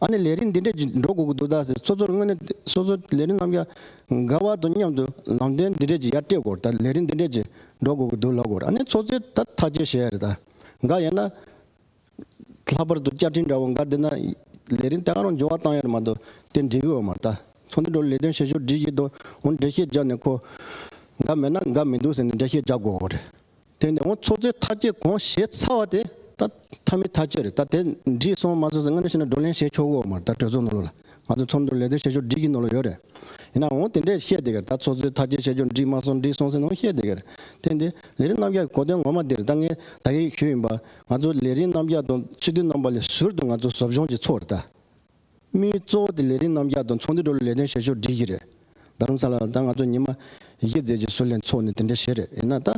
ཨ་ནི་ལས་རིམ་འདི་འདྲས་ཀྱིས་འགྲོ་དགོས་ཀྱི་འདུག་ད་ཟེར་སོ་སོར་དངོས་གནས་སོ་སོ་ལས་རིམ་རྣམས་ཀྱང་དགའ་བ་དང་མཉམ་དུ་ལམ་སྟོན་འདི་འདྲས་ཀྱིས་ཡར་སྤྲད་དགོས་ད་ལས་རིམ་འདི་འདྲས་ཀྱིས་འགྲོ་དགོས་ཀྱི་འདུག་ལབ་དགོས་ཨ་ནི་ཚོགས་རྫས་ད་ཐག་ཅེས་བཤད་རེད་ད་འགའ་ཡིན་ན། ལྷག་པར་དུ་བཅའ་ཁྲིམས་འདྲ་བོ་འགའ་བསྡུ་ན་ལས་རིམ་ད་གང་རུང་འབྱོར་བ་བཏང་ཡོད་རེད་མ་གཏོགས་དེ་འབྲི་གི་འོས་མ་རེད་ད་ཚོགས་འདུ་འགྲོ་ལས་དོན་བྱེད་ཕྱོགས་འབྲི་གི་འདུག་འོན་འགྲེལ་བཤད་རྒྱག་ནས་ཁོ་འགའ་མེད་ན་འགའ་མི་འདུག་ཟེར་ནས་འགྲེལ་བཤད་རྒྱག་དགོས་རེད། དེ་ནས་འོང་ཚོགས་རྫས་ཐག་བཅད་གོང་བཞེས་ཚ་བ་དེ་ད་ཐ་མི་ཐ་ཆོད་རེད་ད་དེ་འདྲིས་སོང་མ་ཚོས་སྔ་ན་ཤི་ན་བགྲོ་གླེང་བྱེད་ཆོག་གོ་མར་ད་གྲོས་ཚོགས་ནོར་ལུག་ལ་ང་ཚོས་ཚོགས་འདུ་ལས་དོན་བྱེད་ཆོག་འདྲིས་ཀྱི་ནོར་ལུག་ཡོད་རེད་ཡིན་ན་འོང་དེ་འདྲས་བཤད་དེ་གར་ད་ཚོགས་རྫས་ཐག་བཅད་བྱེད་ཆོག་འདྲིས་མ་སོང་འདྲིས་སོང་ཟེར་ནའང་བཤད་དེ་གར་ཐེངས་འདིའི་ལས་རིམ་རྣམ་གཞག་གི་གོ་དོན་ངོ་མ་འདིར་ད་ངས་ད་ཡིག་ཞུས་ཡིན་པ་ང་ཚོ་ལས་རིམ་རྣམ་གཞག་དང་སྤྱི་འཐུས་རྣམ་པ་ལས་ཟུར་དུ་ང་ཚོ་ཟོབ་སྦྱོང་བྱེད་ཚོགས་རེད་ད། མི་གཙོ་བོ་དེ་ལས་རིགས་རྣམ་རྒྱལ་དང་ཚོང་འདུས་འགྲོ་ལ་ལས་དོན་བྱེད་ཕྱོགས་འགྲིག་གི་རེད། རྡ་རམ་ས་ལ་ལ་ད་ང་ཚོ་ཉི་མ་གཞི་རྩའི་རྗེས་སུ་ལྷན་ཚོགས་ནས་དེ་འདྲ་བྱེད་རེད་ཡིན་ན་ད།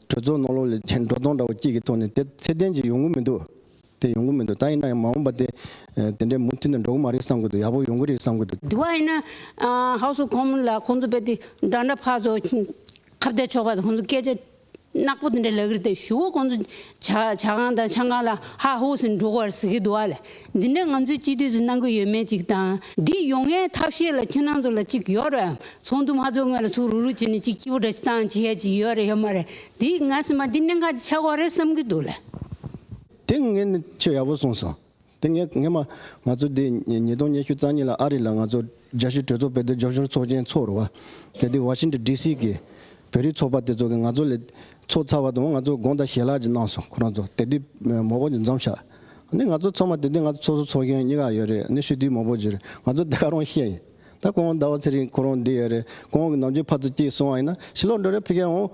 གྲོས་ཚོགས་ནང་ལོག་ལས་འགྲོ་སྟངས་འདྲ་བོ་སྐྱིད་ཀྱི་ཐོག་ནས་དེ་ཚད་ལྡན་གྱི་ཡོང་གི་མི་འདུག་དེ་ཡོང་གི་མི་འདུག་ད་ཡིན་ན་ཡང་མ་འོངས་པ་དེ་དེ་འདྲའི་མུ་མཐུད་ནས་འགྲོ་གི་མ་རེད་བསམ་གི་འདུག་ཡག་པོ་ཡོང་གི་རེད་བསམ་གི་འདུག། དེ་བ་ཡིན་ན། House of Commons ལ་ཁོང་ཚོ་བས་དེ་འདྲ་འདྲ་ཕར་ཚོ་ཁ་བསྡད་ཆོག་པ་དེ་ཁོང་ཚོ་སྐད་ཆ་ནག་པོ་དེ་འདྲ་ལག་གིར་ཏེ་ཞུ་བ་ཁོང་ཚོ་བྱ་ཁང་དང་ཆང་ཁང་ལ་ཧ་ཧོ་ཟེར་འགྲོ་གར་ཟི་གི་འདུག་ཨ་ལས་འདི་འདྲ་ང་ཚོས་སྤྱི་འཐུས་ཚོས་གནང་གི་ཡོད་མེད་ཅིག་དང། འདི་ཡོང་ངའི་ཐབས་ཤེས་ལ་ཁྱེད་རང་ཚོ་ལ་ཅིག་ཡོད་རེད་འམ་ཚོགས་འདུ་མ་ཚོགས་སྔོན་ལ་ཚུགས་རུག་རུག་བྱས་ནས་ཅིག་སྐྱིད་པོ་འདྲ་བཏང་བྱས་ཅིག་ཡོད་རེད་ཡོད་མ་རེད་འདི་ང་སེམས་པ་འདི་གནད་འགག་ཅིག་ཆགས་ཁོག་རེད་བསམ་གི་འདུག་ལ། དེ་ངས་ནི་ཆོས་ཡག་པོ་གསུངས་སོང། དེ་ངས་སྔས་མ། ང་ཚོ་འདི་ཉིས་སྟོང་ཉེར་བཞི་རྩ་གཉིས་ལ་ཨ་རི་ལ་ང་ཚོ་རྒྱ་གཞུ་གྲོས་ཚོགས་པའི་སྡེབ་སྦྱོར་ཤོར་ཚོགས་ཆེན་ཚོགས་རུ་བ། གལ་ཏེ་བ་ཤིན་ཏོན་ལྡི་སི་གི་བོད་རིགས་ཚོགས་པ་དེ་ཚོ་གིས་ང་ཚོ་ལས་ཚོགས་ཚར་བ་དང་ང་ཚོ་དགོངས་དག་ཞལ་ལག་ཅིག་གནང་སོང་ཁོ་རང་ཚོ་དེ་དུས་མོག་པོ་ཅིག་འཛོམས་ཤག་ནི་ང་ཚོ་ཚོགས་མ་དེ་དུས་ང་ཚོ་ཚོགས་སུ་ཚོགས་མཁན་གཉིས་ཀ་ཡོད་རེད་ནི་ཤུ་དུས་མོག་པོ་ཅིག་རེད་ང་ཚོ་དེ་ག་རང་ཤེས་ཡིན་ད་ཁོང་ཟླ་བ་ཚེ་རིང་ཁོ་རང་འདི་ཡོད་རེད་ཁོང་གི་ནམ་རྒྱུན་ཕར་ཚུར་སྐྱིད་སོང་བ་ཡིན་ན་ཕྱི་ལོག་འགྲོ་རེད་ཕི་གའི་འོང།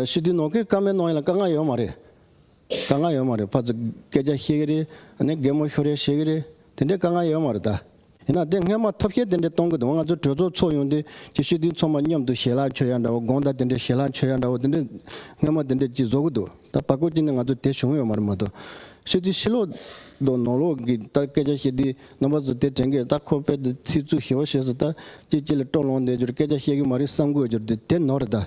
ཤུ་དུས་ནང་ཁུལ་ཀ་མེད་གནང་ཡིན་ལ་དཀའ་ངལ་ཡོད་མ་རེད། དཀའ་ངལ་ཡོད་མ་རེད་ཕ་ཚོ་སྐད་ཆ་ཤེས་གི་རེད་ནས་རྒན་མོ་ཤོ་རེ་ཤེས་གི་རེད་དེ་འདྲའི་དཀའ་ངལ་ཡོད་མ་རེད་ད། ཡིན་ན་དེ་སྔས་མ་ཐོབ་ཤེས་དེ་འདྲའི་གཏོང་གི་འདུག་ང་ཚོ་གྲོས་ཚོགས་ཚོགས་ཡོང་དུས་ཀྱི་ཤེས་དུས་ཚོགས་མ་མཉམ་དུ་ཞལ་ལག་མཆོད་ཡ་འདྲ་བོ་དགོངས་དག་དེ་འདྲའི་ཞལ་ལག་མཆོད་ཡ་འདྲ་བོ་དེ་འདྲའི་སྔས་མ་དེ་འདྲའི་ཅིག་བཟོ་གི་འདུག་ད་བར་སྐོར་ཅིག་ནས་ང་ཚོ་དེ་བྱུང་ཡོད་མ་རེད་མ་གཏོགས་ཤེས་དུས་ཤི་ལོག་དང་ནོར་ལོག་གི་ད་སྐད་ཆ་བཤད་དུས་རྣམ་པ་ཚོ་དེ་དྲན་གི་རེད་ད་ཁོ་པས་དེ་ཚིག་རྩུབ་ཞེ་བོ་བཤད་སོང་ད་ཅིག་ཅིག་ལ་སྤྲོ་ལོང་བསྡད་རྒྱུར་སྐད་ཆ་བཤད་གི་མ་རེད་བསམ་དགོས་རྒྱུར་དེ་ནོར་རེད་ད།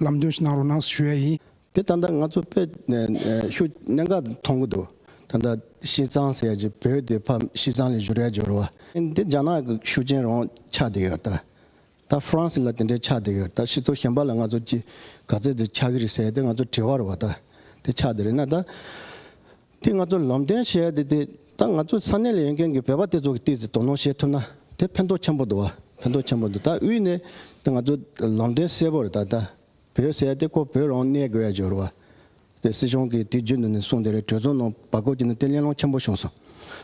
ལམ་སྟོན་ཞིག་གནང་རོགས་གནང་ཞུ་ཡ་ཡིན། དེ་ད་ལྟ་ང་ཚོ་དཔེ་ཤུགས་གནད་འགག་ཏུ་མཐོང་གི་འདུག་ད་ལྟ་ཤིས་ཙང་ཟེར་ཡ་ཇི་བོད་དེ་ཕ་ཤིས་ཙང་ལས་བཞུར་ཡ་འབྱོར་བ། འདི་རྒྱ་ནག་གི་ཤུགས་ཆེན་རང་ཆགས་དེ་གར་ད་ད་ཧྥ་རན་སི་ལ་དེ་འདྲའི་ཆགས་དེ་གར་ད་ཤི་ཚོ་གཞན་པ་ལ་ང་ཚོ་ཅི་ག་ཚད་དུ་ཆགས་ཀྱི་རེད་ཟེར་ཡ་དེ་ང་ཚོ་དྲི་བར་བ་ད་དེ་ཆགས་དེ་རེད་ན་ད། དེ་ང་ཚོར་ལམ་སྟོན་བྱེད་ཡ་དེ་དེ་ད་ང་ཚོའི་ས་གནས་ལ་ཡོད་མཁན་གྱི་བོད་པ་དེ་ཚོ་གི་སྟེ་ཟིག་དོ་སྣང་བྱེད་ཐུབ་ན་དེ་ཕན་ཐོག་ཆེན་པོ་འདུག་བ་ཕན་ཐོག་ཆེན་པོ་འདུག་ད་དབུས་ནས་དེ་ང་ཚོ་ལམ་སྟོན་གསལ་པོ་རེད་ད་ད་བོད་ཟེར་ཡ་དེ་ཁོ་བོད་རང་གནས་དགོས་ཡ་འབྱོར་བ་དེ་སྲིད་སྐྱོང་གི་དུས་རྒྱུན་དུ་ནས་གསུངས་དེ་རེད་གྲོས་ཚོགས་ནང་བར་སྐབས་ཀྱི་ནང་དེ་གླེང་སློང་ཆེན་པོ་བྱུང་སོང་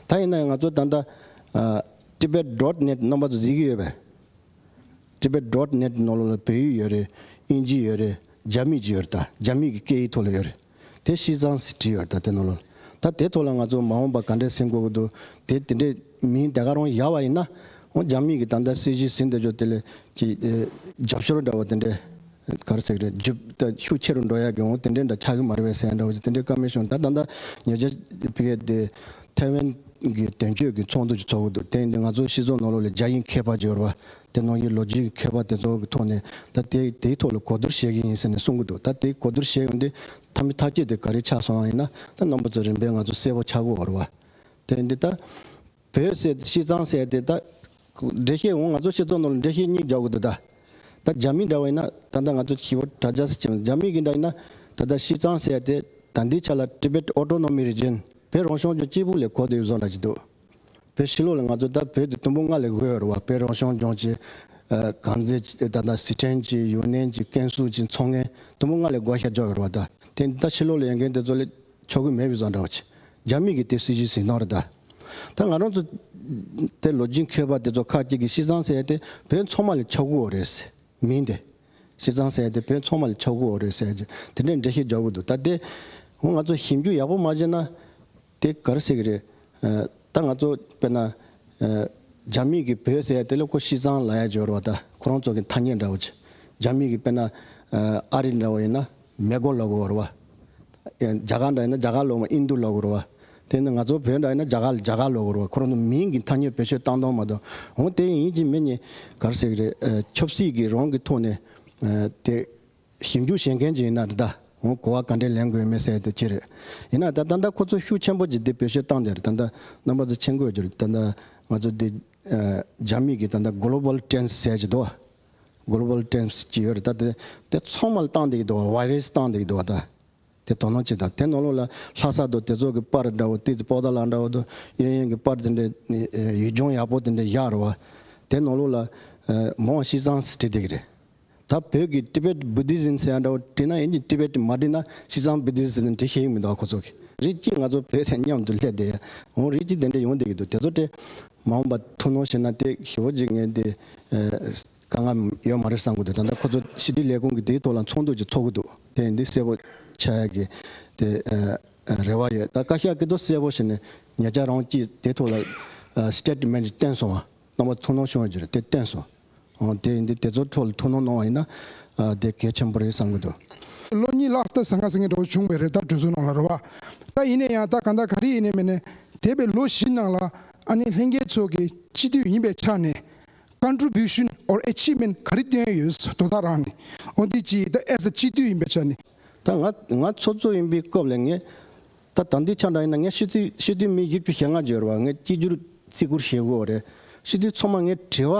ད་ཡིན་ན་ཡང་ང་ཚོ་ད་ལྟ། Tibet Dot Net རྣམ་པ་ཚོ་གཟིགས་ཀྱི་ཡོད་པས། Tibet Dot Net ནང་ལོ་ལ་བོད་ཡིག་ཡོད་རེད་དབྱིན་ཇི་ཡོད་རེད་རྗ་མིག་ཅིག་ཡོད་རེད་ད་རྗ་མིག་གི་སྐད་ཡིག་ཐོག་ལ་ཡོད་རེད། དེ་བཞི་ཚང་ཟིག་བྲིས་ཡོད་ད་དེ་ནོ་ལོ། ད་དེ་ཐོག་ལ་ང་ཚོ་མ་འོངས་པ་ག་འདྲའི་སེམས་འགོ་གི་འདུག་དེ་དེ་འདྲའི་མིན་དེ་ག་རང་ཡག་བ་ཡིན་ན། འོ་རྒྱ་མིས་གི་ད་ལྟ་སྲིད་གཞིས་ཟིན་དེ་ཆོག་དེ་ལས་ཀྱི། རྒྱབ་ཤོར་འདྲ་བོ་དེ་འདྲའི་ག་རེ་ཟེར་གི་རེད། ཇི་ལྟ་ཤུགས་ཆེ་རུ་འགྲོ་ཡག་གི་འོ་དེ་འདྲའི་འདྲ་ཆགས་གི་མ་རེད་བས་སེ་ཡ་འདྲ་བོ་ཅིག་དེ་འདྲའི་ཀ་མེད་བྱུང་ད་ད་ལྟ་ཉེ་ཆར་ཕི་ཀེ་དེ། ཐའེ་ཝན་གི་དོན་གཅོད་ཀྱི་ཚོགས་འདུ་ཅིག་ཚོགས་གི་འདུག་དེ་ཡིན་དུས་ང་ཚོ་སྲིད་ཚོགས་ནོ་ལོ་ལས་རྒྱ་ཡིན་ཁས་པ་འཇོར་བ་དེ་ནང་གི་ལོ་རྒྱུས་ཀྱི་མཁས་པ་དེ་ཚོ་གི་ཐོག་ནས་ད་དེ་དེའི་ཐོག་ལ་གོ་བསྡུར་བྱེད་ཀྱི་ཡིན་ཟེར་ནས་གསུང་གི་འདུག་ད་དེ་གོ་བསྡུར་བྱས་ཡོང་དུས་ཐ་མི་ཐ་ཁྱེད་དེ་ག་རེ་ཆགས་སོང་ཡིན་ན་ད་རྣམ་པ་ཚོ་རིམ་པས་ང་ཚོ་གསལ་པོ་ཆགས་དགོས་བར་བ། དེ་འདི་ད། བོད་གསལ་ཏེ་ཤིས་ཚང་གསལ་ཏེ་ད། འགྲེལ་བཤད་འོང་ང་ཚོ་ཤེས་ཚོགས་ནང་ལ་འགྲེལ་བཤད་གཉིས་རྒྱག་དགོས་འདུག་ད། ད་རྒྱ་མི་འདྲ་བ་ཡིན་ན་ད་ལྟ་ང་ཚོ་ཞི་བ་དྲ་རྒྱ་སི་བྱེད་རྒྱ་མི་གི་འདྲ་ཡིན་ན་ད་ལྟ་ཤིས་ཚང་གསལ་ཏེ་ད་འདིའི་ཆ་ལ Tibet Autonomy Region བོད་རང་གཞུང་ལྗོངས་སྐྱིད་པོ་ལས་གོ་དེ་བཟོ་འདྲ་གྱི་འདུག། བོད་ཕྱི་ལོགས་ལ་ང་ཚོ་ལྟར་བོད་དུ་དུམ་བུ་ལྔ་ལས་འགོས་བར་བོད་རང་སྐྱོང་ལྗོངས་ཀྱི་གངས་རྫས་དང་དང་ཟི་ཁྲེན་གྱི་ཡུའུ་ནན་གྱི་ཀན་སུའུ་ཅིན་མཚོ་ངན་དུམ་བུ་ལྔ་ལས་འགོ་ཤ་འཇོག་ཡོད་ར་བ་ད། དེ་ད་ཕྱི་ལོགས་ལ་ཡོད་མཁན་དེ་ཚོ་ལས་ཆོག་གི་མེད་བུ་བཟང་འདྲ་བ་ཆེ། རྒྱ་མིས་ཀྱི་དེ་སྲིད་ཀྱི་ཟིན་ཐང་ར་ད། ད་ང་རང་ཚོ་དེ་ལོ་རྒྱུས་མཁས་པ་དེ་ཚོ་ཁག་ཅིག་གིས་ཤི་ཚང་ཟེར་དེ་བོད་མཚོ་མ་ལས་ཆོག་གུ་བོ་རེད་ཟེར། མིན་ཏེ། ཤི་ཚང་ཟེར་དེ་བོད་མཚོ་མ་ལས་ཆོག་གུ་བོ་རེད་ཟེར་རྗེས་དེ་འདྲའི་འགྲེལ་བཤད་འཇོག་གི་འདུག་ད་དེ། འོ་ང་ཚོ་ཞིབ་འཇུག་ཡག་པོ་མ་བྱས་ན། དེ་གར་ཞིག་རེད། ད་ང་ཚོ་དཔེར་ན། རྒྱ་མིག་གི་བོད་ཟེར་དེ་ལ་ཁོ་ཤི་ཙང་ལ་ཡ་སྦྱོར་བ་ད་ཁོ་རང་ཚོ་གི་ཐ་སྙད་འདྲ་བོ་ཆེ། རྒྱ་མིག་གི་དཔེར་ན། ཨ་རི་འདྲ་བོ་ཡིན་ན་མེ་གོ་ལ་བོར་བ། རྒྱ་གར་འདྲ་ཡིན་ན་རྒྱ་གར་ལོག་མ་ཨིན་དུ་ལ་བོར་བ། དེ་ནི་ང་ཚོ་བོད་འདྲ་ཡིན་ན་རྒྱ་གར་རྒྱ་གར་ལ་བོར་བ་ཁོ་རང་ཚོ་མིང་གི་ཐ་སྙད་བེད་སྤྱོད་བཏང་དང་མ་གཏོང་འོང་དེ་ཡིན་གྱི་མི་གཉིས་གར་ཞིག་རེད་ཆབ་སྲིད་ཀྱི་རང་གི་ཐོག་ནས། དེ་ཞིབ་འཇུག་བྱེད་མཁན་ཞིག་ཡིན་ན་ད་ངོ་གོ་བ་ག་འདྲའི་ལེན་དགོས་མེད་གསལ་དུ་ཕྱེ་རེད། ཡིན་ན་ད་ད་ལྟ་ཁོ་ཚོ་ཤུགས་ཆེན་པོ་གྱིས་འདི་བེད་སྤྱོད་བཏང་སྟེ་ད་ད་རྣམ་པ་ཚོ་མཆན་འགོད་རྒྱུར་ད་ད་ང་ཚོ་འདི་རྒྱ་མིག་གིས་ད་ད Global Trends ཟེར་གྱི་འདུག་བ། Global Trends ཇི་ཡོད་རེད་ད་དེ་ཚང་མ་ལ་བཏང་འདེགས་འདུག་བ Virus བཏང་འདེགས་འདུག་བ་ད། དེ་དོ་སྣང་བྱེད་དང་དེ་ནོར་ལུག་ལ་ལྷ་ས་དུ་དེ་ཚོགས་ཀྱི་པར་འདྲ་བོ་ཏི་ཙི་པོ་ད་ལ་འདྲ་བོ་དུ་གཡོན་གཡོན་གྱི་པར་དེ་འདྲ་ཡུལ་ལྗོངས་ཡག་པོ་དེ་འདྲ་བཞག་རོགས་བ། དེ་ནོར་ལུག་ལ་མོ་བ་ཤིས་ཚང་ཟེར་བྲིས་འདི་གི་རེད། ད་བོད་ཀྱི Tibet Buddhism ཟེར་ཡག་འདྲ་བོ་བྲིས་ན་ཡིན་གྱི Tibet མ་བྲིས་ན་ཤིས་ཚང Buddhism ཟེར་བྲིས་ཤེས་ཡི་མི་འདུག་ཨ་ཁོ་ཚོ་གི། རིགས་གཅིག་ང་ཚོ་བོད་དེ་མཉམ་དུ་སླེབས་དེ་འོང་རིགས་གཅིག་དེ་འདྲ་ཡོང་དེ་གི་འདུག་དེ་ཚོ་དེ་མ་འོངས་པ་ཐུགས་སྣང་བྱེད་ན་དེ་ཞི་བོ་ཅིག་ངས་དེ། དཀའ་ངལ་ཡོད་མ་རེད་བསམ་གྱི་འདུག་ད་ལྟ་ཁོ་ཚོ་ཞི་བདེའི་ལས་ཁུངས་ཀྱི་དེའི་ཐོག་ལ་ཚོགས་འདུ་ཅིག་ཚོགས་ཀྱི་འདུག་དེ་འདི་གསལ་བོ་ཆགས་ཡག་གི་དེ་རེ་བ་ཡོད་ད་བཀའ་ཤག་གི་ཏོ་གསལ་བོ་བྱས་ནས་ཉེ་ཆར་རང་ཀྱིས་དེའི་ཐོག་ལ Statement ཅིག་བཏན་སོང་བ་རྣམ་པ་ཐུགས་སྣང་ཤོར་རྒྱུ་རེད་དེ་བཏན་སོང་ཨང་དེ་འདི་དེ་ཚོའི་ཐོག་ལ་ཐུགས་སྣང་གནང་བ་ཡིན་ན་དེ་གལ་ཆེན་པོ་རེད་བསམ་གྱི་འདུག། ལོ་གཉིས་ལགས་ད་ཟ་ང་ཟ་མཁན་འདྲ་བོ་བྱུང་བས་རེད་ད་གྲོས་བཟོ་གནང་ལ་རོལ་བ་ད་ཡིན་ནས་ཡང་ད་གང་ད་ག་རེ་ཡིན་ནས་མིན་ནས་དེད་པའི་ལོ་བཞི་ནང་ལ་ཨ་ནེ་ལྷན་རྒྱས་ཚོགས་ཀྱི་སྤྱི་འཐུས་ཡིན་པའི་ཆ་ནས Contribution or Achievement ག་རེ་བཏོན་ཡོད་དོ་ད་རང་ནི་འོ་འདི་ཅི་ད as a སྤྱི་མཐུས་ཡིན་པའི་ཆ་ནས། ད་ང་ང་ཚོགས་གཙོ་ཡིན་པའི་སྐབས་ལས་ངས་ད་ད་འདི་ཆ་འདྲ་ཡིན་ན་ངས་ཤི་ཚུལ་ཤི་དུས་མི་བཞི་བཅུ་ཞེ་ལྔ་བརྗོད་རོགས་ངས་སྐྱིད་རྒྱུར་བརྩི་བཀུར་བྱེད་དགོས་བ་རེད་ཤི་དུས་ཚོགས་མ་ངས་དྲི་བ་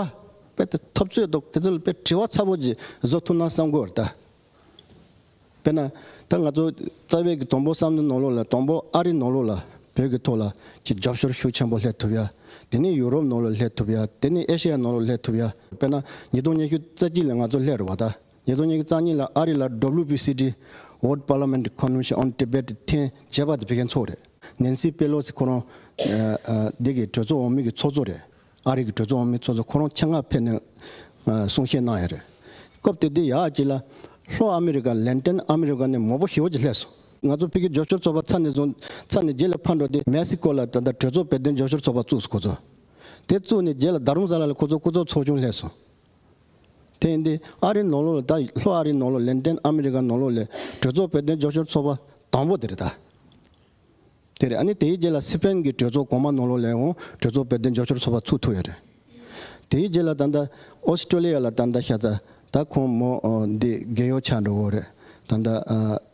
དཔེ་དེ་ཐོབ་ཚོད་དོག་དེ་ཚོ་ལ་དཔེ་དྲི་བ་ཚ་པོ་ཅིག་བཟོ་ཐུབ་ན་བསམ་དགོས་བ་རེད་ད། དཔེར་ན། ད་ང་ཚོ་རྩ་བའི་གི་དོམ་པོ་སམ་ནི་ནོར་ལོག་ལ་དོམ་པོ་ཨ་རི་ནོར་ལོག་ལ་བོད་གི་ཐོག་ལ་གི་རྒྱབ་ཤོར་ཤུགས་ཆེན་པོ་སླེབས་ཐུབ་ཡ། དེ་ནི་ཡུ་རོབ་ནོར་ལོག་སླེབས་ཐུབ་ཡ་དེ་ནི་ཨེ་ཤེ་ཡ་ནོར་ལོག་སླེབས་ཐུབ་ཡ། དཔེར་ན་ཉིས་སྟོང་ཉི་ཤུ་རྩ་གཅིག་ལ་ང་ཚོ་སླེབས་རེ་བ་ད། ཉིས་སྟོང་ཉི་ཤུ་རྩ་གཉིས་ལ་ཨ་རི་ལ WPCD། World Parliament Convention on Tibet། ཐེན་བྱེད་པ་དེ་བྷི་གན་ཚོགས་རེད། Nancy Pelosi ཁོ་རང། འདི་གི་གྲོས་ཚོགས་འོག་མིན་གི་ཚོགས་གཙོ་རེད། ཨ་རིག་གི་གྲོས་ཚོགས་འོག་མའི་ཚོགས་གཙོ་ཁོ་རང་ཆེད་མངགས་ཕེབས་ནས་གསུང་བཤད་གནང་ཡས་རེད། སྐབས་དེ་དུས་ཡག་ཅིག་ལ། ལྷོ་ཨ་མི་རི་ཀ་ལན་ཏན་ཨ་མི་རི་ཀ་ནས་མོ་པོ་ཧི་བོ་ཅི་ལྷས་སོང། ང་ཚོ་ཕི་གི་འཇོག་ཤོར་ཚོགས་པ་ཚར་ནས་བཟུང་ཚར་ནས་རྗེས་ལ་ཕར་འགྲོ་སྟེ་མེ་སི་ཀོ་ལ་ད་ལྟ་གྲོས་ཚོགས་དཔལ་ལྡན་འཇོག་ཤོར་ཚོགས་པ་བཙུགས་སོ་ཁོ་ཚོ། དེ་བཙུགས་ནས་རྗེས་ལ་རྡ་རུང་ས་ལ་ལ་ཁོ་ཚོ་སྐུ་ཚོགས་ཚོགས་ཆུང་ལྷས་སོང། དེ་ཡིན་དུས་ཨ་རིའི་ནང་ལོགས་ལ་ད་ལྷོ་ཨ་རིའི་ནང་ལོགས་ལན་ཏན་ཨ་མི་རི་ཀ་ནང་ལོགས་ལས་གྲོས་ཚོགས་དཔལ་ལྡན་འཇོག་ཤོར་ཚོགས་པ་དང་པོ་དེ་རེད་ད། དེ་རེད་ཨ་ནི་དེའི་རྗེས་ལ་སི་ཕེན་གྱི་གྲོས་ཚོགས་གོང་མ་ནོ་ལོ་ལེའོ་གྲོས་ཚོགས་དཔལ་ལྡན་ཇོ་ཤོར་ཚོགས་པ་ཚུགས་ཐུབ་ཡོད་རེད། དེའི་རྗེས་ལ་ད་ལྟ་ཨོ་སི་ཀྲོ་ལི་ཡ་ལ་ད་ལྟ་ཤ་ཚ་ད་ཁོང་མོ་འདི་རྒས་ཡོ་ཆགས་འགྲོ་གི་འོ་རེད་ད་ལྟ་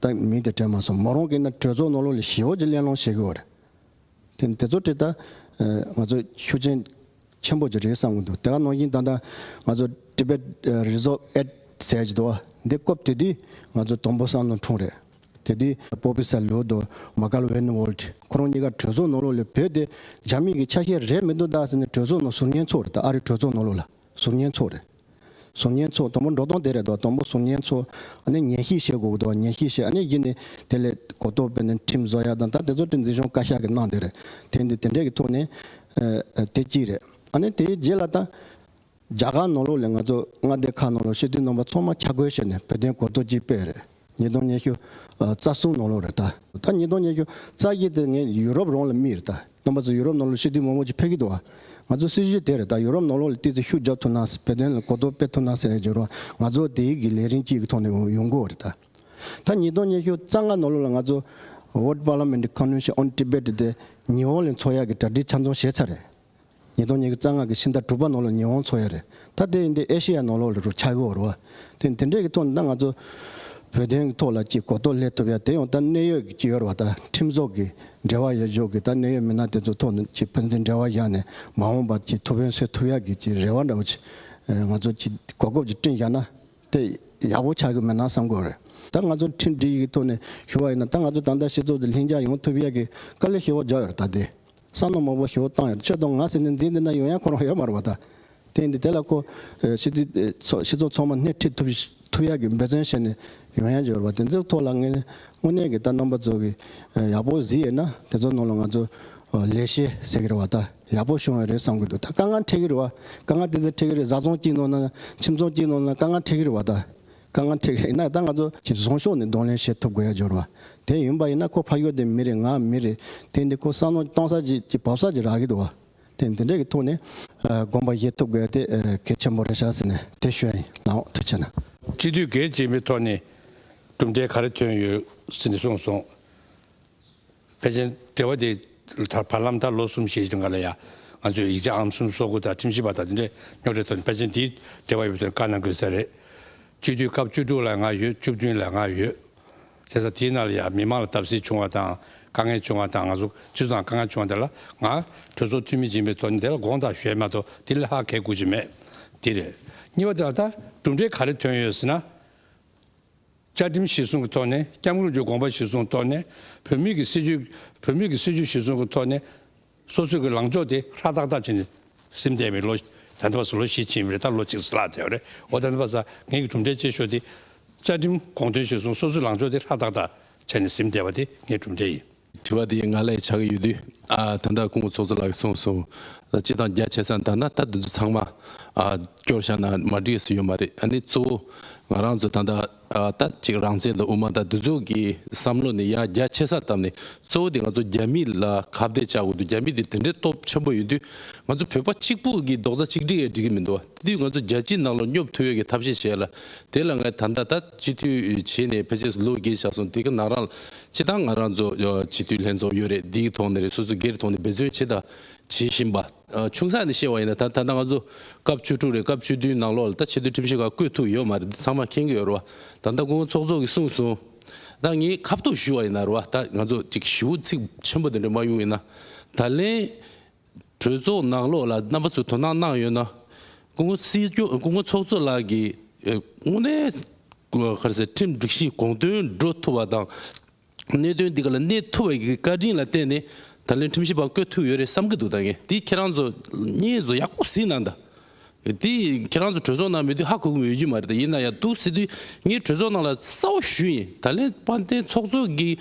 ད་མི་དེ་དྲན་མ་སོང་མོ་རང་གིས་ན་གྲོས་ཚོགས་ནོ་ལོ་ལི་ཞི་ཨོ་ཇི་གླེང་སློང་བྱེད་གི་འོ་རེད། དེ་ནི་དེ་ཚོ་དེ་ལྟ། ང་ཚོ་ཤུགས་ཆེན། ཆེན་པོ་ཅིག་རེད་བསམ་གྱི་འདུག་དེ་ག་ནང་བཞིན་ད་ལྟ་ང་ཚོ Tibet Resolve Aid ཟེར་གྱི་འདུག་བ་འདི་བཀོད་དེ་དུས་ང་ཚོ་དང་པོ་བསམ་བློ་འཁྲུངས་རེད། དེ་དུས Professor Leo དང Michael Weinwald ཁོ་རང་གཉིས་ཀ་གྲོས་ཚོགས་ནང་ལོགས་ལས་བོད་དེ་རྒྱ་མིས་ཀྱི་ཆ་ཤས་རེད་མི་འདུག་ད་ཟེར་ནས་གྲོས་ཚོགས་ནང་ཟུར་ཉན་ཚོགས་རེད་ད་ཨ་རིའི་གྲོས་ཚོགས་ནང་ལོགས་ལ་ཟུར་ཉན་ཚོགས་རེད། ཟུར་ཉན་ཚོ་དང་པོ་འགྲོ་དོང་དེ་རེད་དོ་དང་པོ་ཟུར་ཉན་ཚོ་ཨནི་ཉན་ཤིས་བྱེད་དགོས་དོ་ཉན་ཤིས་བྱེད་ཨནི་ཡིན་ནི་དེ་ལས་གོ་ཏོ་པེ་ནི་ཁྲིམས་བཟོ་ཡ་དང་ད་དེ་ཚོ་ཁྲིམས་འཛིན་གཞུང་བཀའ་ཤག་གི་གནང་དེ་རེད་དེ་འདི་དེ་འདྲས་ཀྱི་ཐོག་ནས་དེ་གཅིག་རེད་ཨནི་དེའི་རྗེས་ལ་ད་རྒྱ་གར་ནང་ལོགས་ལས་ང་ཚོ་མངའ་སྡེ་ཁག་ནང་ལོགས་ཤེས་ལྡན་ནང་པ་ཚོ་མ་ཆ་བགོས་བྱས་ནས་བོད་དོན་གོ་ཏོ་གཅིག་པས་རེད། ཉིས་སྟོང་ཉི་ཤུ་རྩ་གསུམ་ནོར་ལོ་རེད་ད། ད་ཉིས་སྟོང་ཉི་ཤུ་རྩ་བརྒྱད་དེ་ངས་ཡུ་རོབ་རོང་ལ་རྨིས་རེད་ད། སྟོན་པ་ཚོ་ཡུ་རོབ་ནོར་ལོ་ཤི་དུས་མོག་མོག་ཅིག་ཕེབས་ཀྱི་འདུག་ཨ། ང་ཚོ་སྲིད་གཞུང་དེ་རེད་ད་ཡུ་རོབ་ནོར་ལོ་ལ་བལྟས་ཚེ་ཤུགས་རྒྱོབ་ཐུབ་ན་བོད་དོན་ལ་གོ་རྟོགས་སྤེལ་ཐུབ་ན་ཟེར་ཡས་བྱུང་རོགས་ང་ཚོ་དེ་ཡིག་གི་ལས་རིན་གཅིག་གི་ཐོག་ནས་ཡོང་དགོས་རེད་ད། ད་ཉིས་སྟོང་ཉི་ཤུ་རྩ་ལྔ་ནོར་ལོ་ལ་ང་ཚོ། World Parliament Convention on Tibet དེ་ཉི་ཧོང་ལས་འཚོགས་ཡག་གི་གྲ་སྒྲིག་ཆ་འཚོང་བྱས་ཚར་རེད། ཉིས་སྟོང་ཉེར་དགུ་རྩ་སྔགས་ཀྱི་ཕྱི་ཟླ་དྲུག་པ་ནོར་ལོ་ཉི་ཧོང་ཚོ་ཡ་རེད། ད་དེ་ཡིན་དུས་ཨེ་ཤེ་ཡ་ནོར་ལོག་རུ་ཆགས་ཀྱི་འོ་རུ་བ། དེ་འདི་འདྲས་ཀྱི་ཐོག་ནས་ད་ང་ཚོ་བོད་དོན་གྱི་ཐོག་ལ་ཅིག་གོ་རྟོགས་སླེབས་ཐུབ་ཡ་དེ་ཡང་ད་གནད་ཡོད་ཀྱི་ཡོ་རུ་བ་ད་ཁྲིམས་ཟོག་གི་འབྲེལ་བ་ཡོད་འཇོག་གི་ད་གནད་ཡོད་མི་སྣ་དེ་ཚོ་ཐོག་ནས་ཅིག་ཕན་ཚུན་འབྲེལ་བ་བཞག་ནས་མ་འོངས་པར་ཅིག་ཐུ་བོན་གསོད་ཐུབ་ཡ་གི་ཅིག་རེ་བ་འདྲ་བོ་ཅིག་ང་ཚོ་ཅིག་གོ་སྐབས་ཅིག་སྤྲིངས་བཞག་ན་དེ་ཡག་པོ་ཆགས་ཀྱི་མེད་ན་བསམ་དགོས་རེད། ད་ང་ཚོ་ཁྲིམས་སྒྲིག་གི་ཐོག་ནས་ཞུ་བ་ཡིན་ན་ད་ང་ཚོ་ད་ལྟ་སྤྱི་ཚོགས་དེ་ལྷིང་འཇགས་ཡོང་ཐུབ་ཡ་གི་དཀའ་ལས་ཤེས་བོ་འཇགས་ཡོ་རུ་ད་དེ། བསམ་མནོ་མང་པོ་ཞིག་འོག་བཏང་ཡོད། ཆོས་དང་ང་ཟེར་ནས་འཛིན་བསྡད་ན་ཡོང་ཡ་ཁོ་རང་ཡོད་མ་རེད་པ་ད། དེ་འདི་དེ་ལ་ཁོ། ཕྱི་དྲིལ། སོགས་སྤྱི་ཚོགས་ཚང་མ་སྣེ་ཁྲིད་ཐུབ། ཐུབ་ཡག་གི་འབད་བརྩོན་བྱས་ནས་ཡོང་ཡ་འཇོག་རེད་པ་དེ་ཚོའི་ཐོག་ལ་ངས། དངོས་གནས་ཀྱི་ད་རྣམ་པ་ཚོ་གི། ཡག་པོ་གཟིགས་ཡོད་ན་དེ་ཚོ་ནང་ལ་ང་ཚོ། ལས་བྱེད་ཟེར་གི་རེད་བ་ད་ཡག་པོ་བྱུང་ཡོད་རེད་བསམ་གི་འདུག་ད་དཀའ་ངལ་འཕྲད་ཀྱི་རེད་བ། དཀའ་ངལ་དེ་ཚོ་འཕྲད་ཀྱི་རེད་བཟའ་ཚང་གཅིག་ནང་ན། ཁྱིམ་ཚང་གཅིག་ནང་ན་དཀའ་ངལ་འཕྲད་ཀྱི་རེད་བ་ད། དཀའ་ངལ་འཕྲད་ཀྱི་ཡིན་ན་ད་ང་ཚོ་གི་བཟང་ཕྱོགས་ནས་གདོང་ལེན་བྱེད་ཐུབ་དགོས་ཡ་འབྱོར་བ་དེ་ཡིན་པ་ཡིན་ན་ཁོ་ཕ་ཡུལ་དེ་མི་རེད་ང་མི་རེད་དེ་འདི་ཁོ་བསམ་བློ་གཏོང་ས་ཅིག་ཅིག་བབས་ས་ཅིག་རག་གི་འདུག་བ་དེ་འདི་འདྲས་ཀྱི་ཐུགས་ནས་དགོངས་པ་བཞེས་ཐུབ་དགོས་དེ་གལ་ཆེན་པོ་རེད་ཤག་ཟེར་ནས་དེ་བཤོད་ཡིན་ལགས་འོ་དེ་བྱས་ན། སྤྱི་འཐུས་འགས་སྤྱི་མི་ཐོག་ནས་གྲུབ་འབྲས་ག་རེ་ཐོན་ཡོད་ཟེར་ནས་གསུངས་སོང། ཕལ་ཆེར་འབྲེལ་བ་དེ་དག་བར་ལམ་ད་ལོ་གསུམ་བཞི་ལྔ་ལ་ཡང་ང་ཚོས་ཡིག་ཆ་ཨང་གསུམ་སོ་དགུ་དང་ཁྲིམས་ཞིབ་པ་དང་དེ་འདྲའི་རྙོག་དྲའི་ཐོག་ནས་ཕལ་ཆེར་འདིའི་འབྲེལ་བ་ཡོད་པ་དེར་བཀའ་གནང་དགོས་ས་རེད། སྤྱི་འཐུས་སྐབས་བཅུ་དྲུག་ལ་ང་ཡོད་བཅུ་བདུན་ལ་ང་ཡོད། དེ་ས་དེའི་ནང་ལ་ཡང་མི་མང་ལ་སྟབས་བསེ་བྱུང་བ་དང་དཀའ་ངལ་བྱུང་བ་དང་ང་ཚོ་སྤྱི་ཚོགས་ནང་དཀའ་ངལ་བྱུང་བ་དེ་ལ་ང་གྲོས་ཚོགས་འཐུས་མི་ཡིན་པའི་ཐོག་ནས་དེ་ལ་དགོངས་དག་ཞུས་ཡ་མ་གཏོགས་དེ་ལས་ལྷག་གལ་དགོས་ཀྱི་མེད། དེ་རེད། གཉིས་པ་དེ་ལ་ད་གྲུབ་འབྲས་ག་རེ་ཐོན་ཡོད་ཟེར་ན། བཅའ་ཁྲིམས་གཞིར་བཟུང་གི་ཐོག་ནས ྋསྐྱབས་མགོན་ལྗོངས་དགོངས་པ་གཞིར་བཟུང་ཐོག་ནས་བོད་མིའི་གི་སྲིད་ཇུས་བོད་མིའི་གི་སྲིད་ཇུས་གཞིར་བཟུང་གི་ཐོག་ནས་སོ་སོའི་གི་ལངས་ཕྱོགས་དེ་ཧྲ་ཏག་ཏག་བྱས་ནས་སིམ་འདས་པའི་ལོ་ད་ལྟ་བར་སོ་ལོ་བཞི་ཕྱིན་པ་རེད་ད་ལོ་གཅིག་ལ་ལྷག་བསྡད་པ་རེད་འོ་ད་ལྟ་བར་ས་ངན་གི་གྲུབ་འབྲས་ཅེས་ཤོག་དེ་བཅའ་ཁྲིམས་དགོངས་དོན་གཞིར་བཟུང་སོ་སོའི་ལངས་ཕྱོགས་དེ་ཧྲ་ཏག་ཏག་བྱས་ནས་སིམ་འདས་པ་དེ་ངའི་གྲུབ་འབྲས་ཡིན། དྲི་བ་དེ་ང་ལས་ཆགས་ཀྱི་ཡོད་དུས། ད་ལྟ་སྐུ་ངོ་ཚོགས་གཙོ་ལགས་ཀྱིས་གསུངས་སོང། སྤྱི་དང་རྒྱ་ཆེ་ས་ལྟར་ན་ད་དུ་འདི་ཚང་མ། སྐྱོར་བཞག་ན་མ་འགྲིག་ས་ཡོད་མ་རེད་ཨ་ནི་གཙོ་བོ། ང་རང་ཚོ་ད་ལྟ་ད་ཅིག་རང་བཙན་དང་དབུ་མ་དང་འདི་ཚོ་གི་བསམ་བློ་ནི་ཡ་རྒྱ་ཆེ་སར་བཏབ་ནས་གཙོ་བོ་དེ་ང་ཚོ་རྒྱ་མི་ལ་ཁ་བརྡས་བཅག་དགོས་འདུག་རྒྱ་མི་དེ་དེ་འདྲའི་སྟོབས་ཆེན་པོ་ཡོད་དུས། ང་ཚོ་བོད་པ་གཅིག་པུ་གི་རྡོག་རྩ་གཅིག་སྒྲིལ་ཡས་འགྲིག་གི་མི་འདུག་དེ་དུས་ང་ཚོ་རྒྱལ་སྤྱིའི་ནང་ལ་སྙོབ་ཐུབ་ཡས་ཀྱི་ཐབས་ཤེས་བྱས་ལ། དེ་ལ་ང་ད་ལྟ་ད། སྤྱི་འཐུས་བྱས་ནས་ཕལ་ཆེར་ལོ་བརྒྱད་ཆགས་སོང་དེ་ག་ནང་རང་སྤྱི་དང་ང་རང་ཚོ་སྤྱི་འཐུས་ལྷན་ཚོགས་ཡོད་རེད་འདིའི་ཐོག་ནས་རེད་སོ་སོ་སྒེར་ཐོག་ནས་འབད་བརྩོན་བྱེད་དང་བྱེད་བཞིན་པ། ཆུང་ས་ནས་བཤད་བ་ཡིན་ན་ད་ད་ལྟ་ང་ཚོ་སྐབས་བཅུ་དྲུག་རེད་སྐབས་བཅུ་བདུན་ནང་ལོགས་ལ་ད་ཆེད་དུ་ཁྲིམས་གཞི་འགའ་བཀོད་ཐུབ་ཡོད་མ་རེད་འདི་ཚང་མ་མཁྱེན་གི་ཡོད་རེད་བ་ད་ད་ཀུན་ཚོགས་གཙོ་གི་གསུངས་སོང་ད་ངས་ཁ་བཏོགས་ཞུས་བ་ཡིན་ན་རེད་བ་ད་ང་ཚོ་ཅིག་ཞི་བོ་ཚིག་ཆེན་པོ་དེ་འདྲ་མ་ཡོང་ཡིན་ན་ད་ལན། གྲོས་ཚོགས་ནང་ལོགས་ལ་རྣམ་པ་ཚོས་དོ་སྣང་གནང་ཡོད་ན། སྐུ་ངོ་སྲིད་སྐྱོང་སྐུ་ངོ་ཚོགས་གཙོ་ལགས་ཀྱིས་དངོས་གནས་ཁྲིམས་སྒྲིག་གཞིའི་དགོངས་དོན་འགྲོ་ཐུབ་པ་དང། གནད་དོན་འདི་ག་ལ་གནས་ཐུབ་པ་ཀྱི་བཀའ་དྲིན་ལ་བརྟེན་ནས་ད་ལན་ཁྲིམས་ཞིབ་པ་བསྐོས་ཐུབ་ཡོད་རེད་བསམ་གྱི་འདུག་ད་ངས་འདི་ཁྱེད་རང་ཚོ་གཉིས་ཚོ་ཡག་པོ་གཟིགས་གནང་གདའ། འདི་ཁྱེད་རང་ཚོ་གྲོས་ཚོགས་ནང་མེད་དུས་ཧ་གོ་གི་ཡོད་ཀྱི་མ་རེད་ད་ཡིན་ན་ཡང་འདུག་སྲིད་དོན་ངས་གྲོས་ཚོགས་ནང་ལ་གསལ་བོ་ཞུས་ཡིན་ད་ལན་དཔལ་ལྡན་ཚོགས་གཙོ་གིས་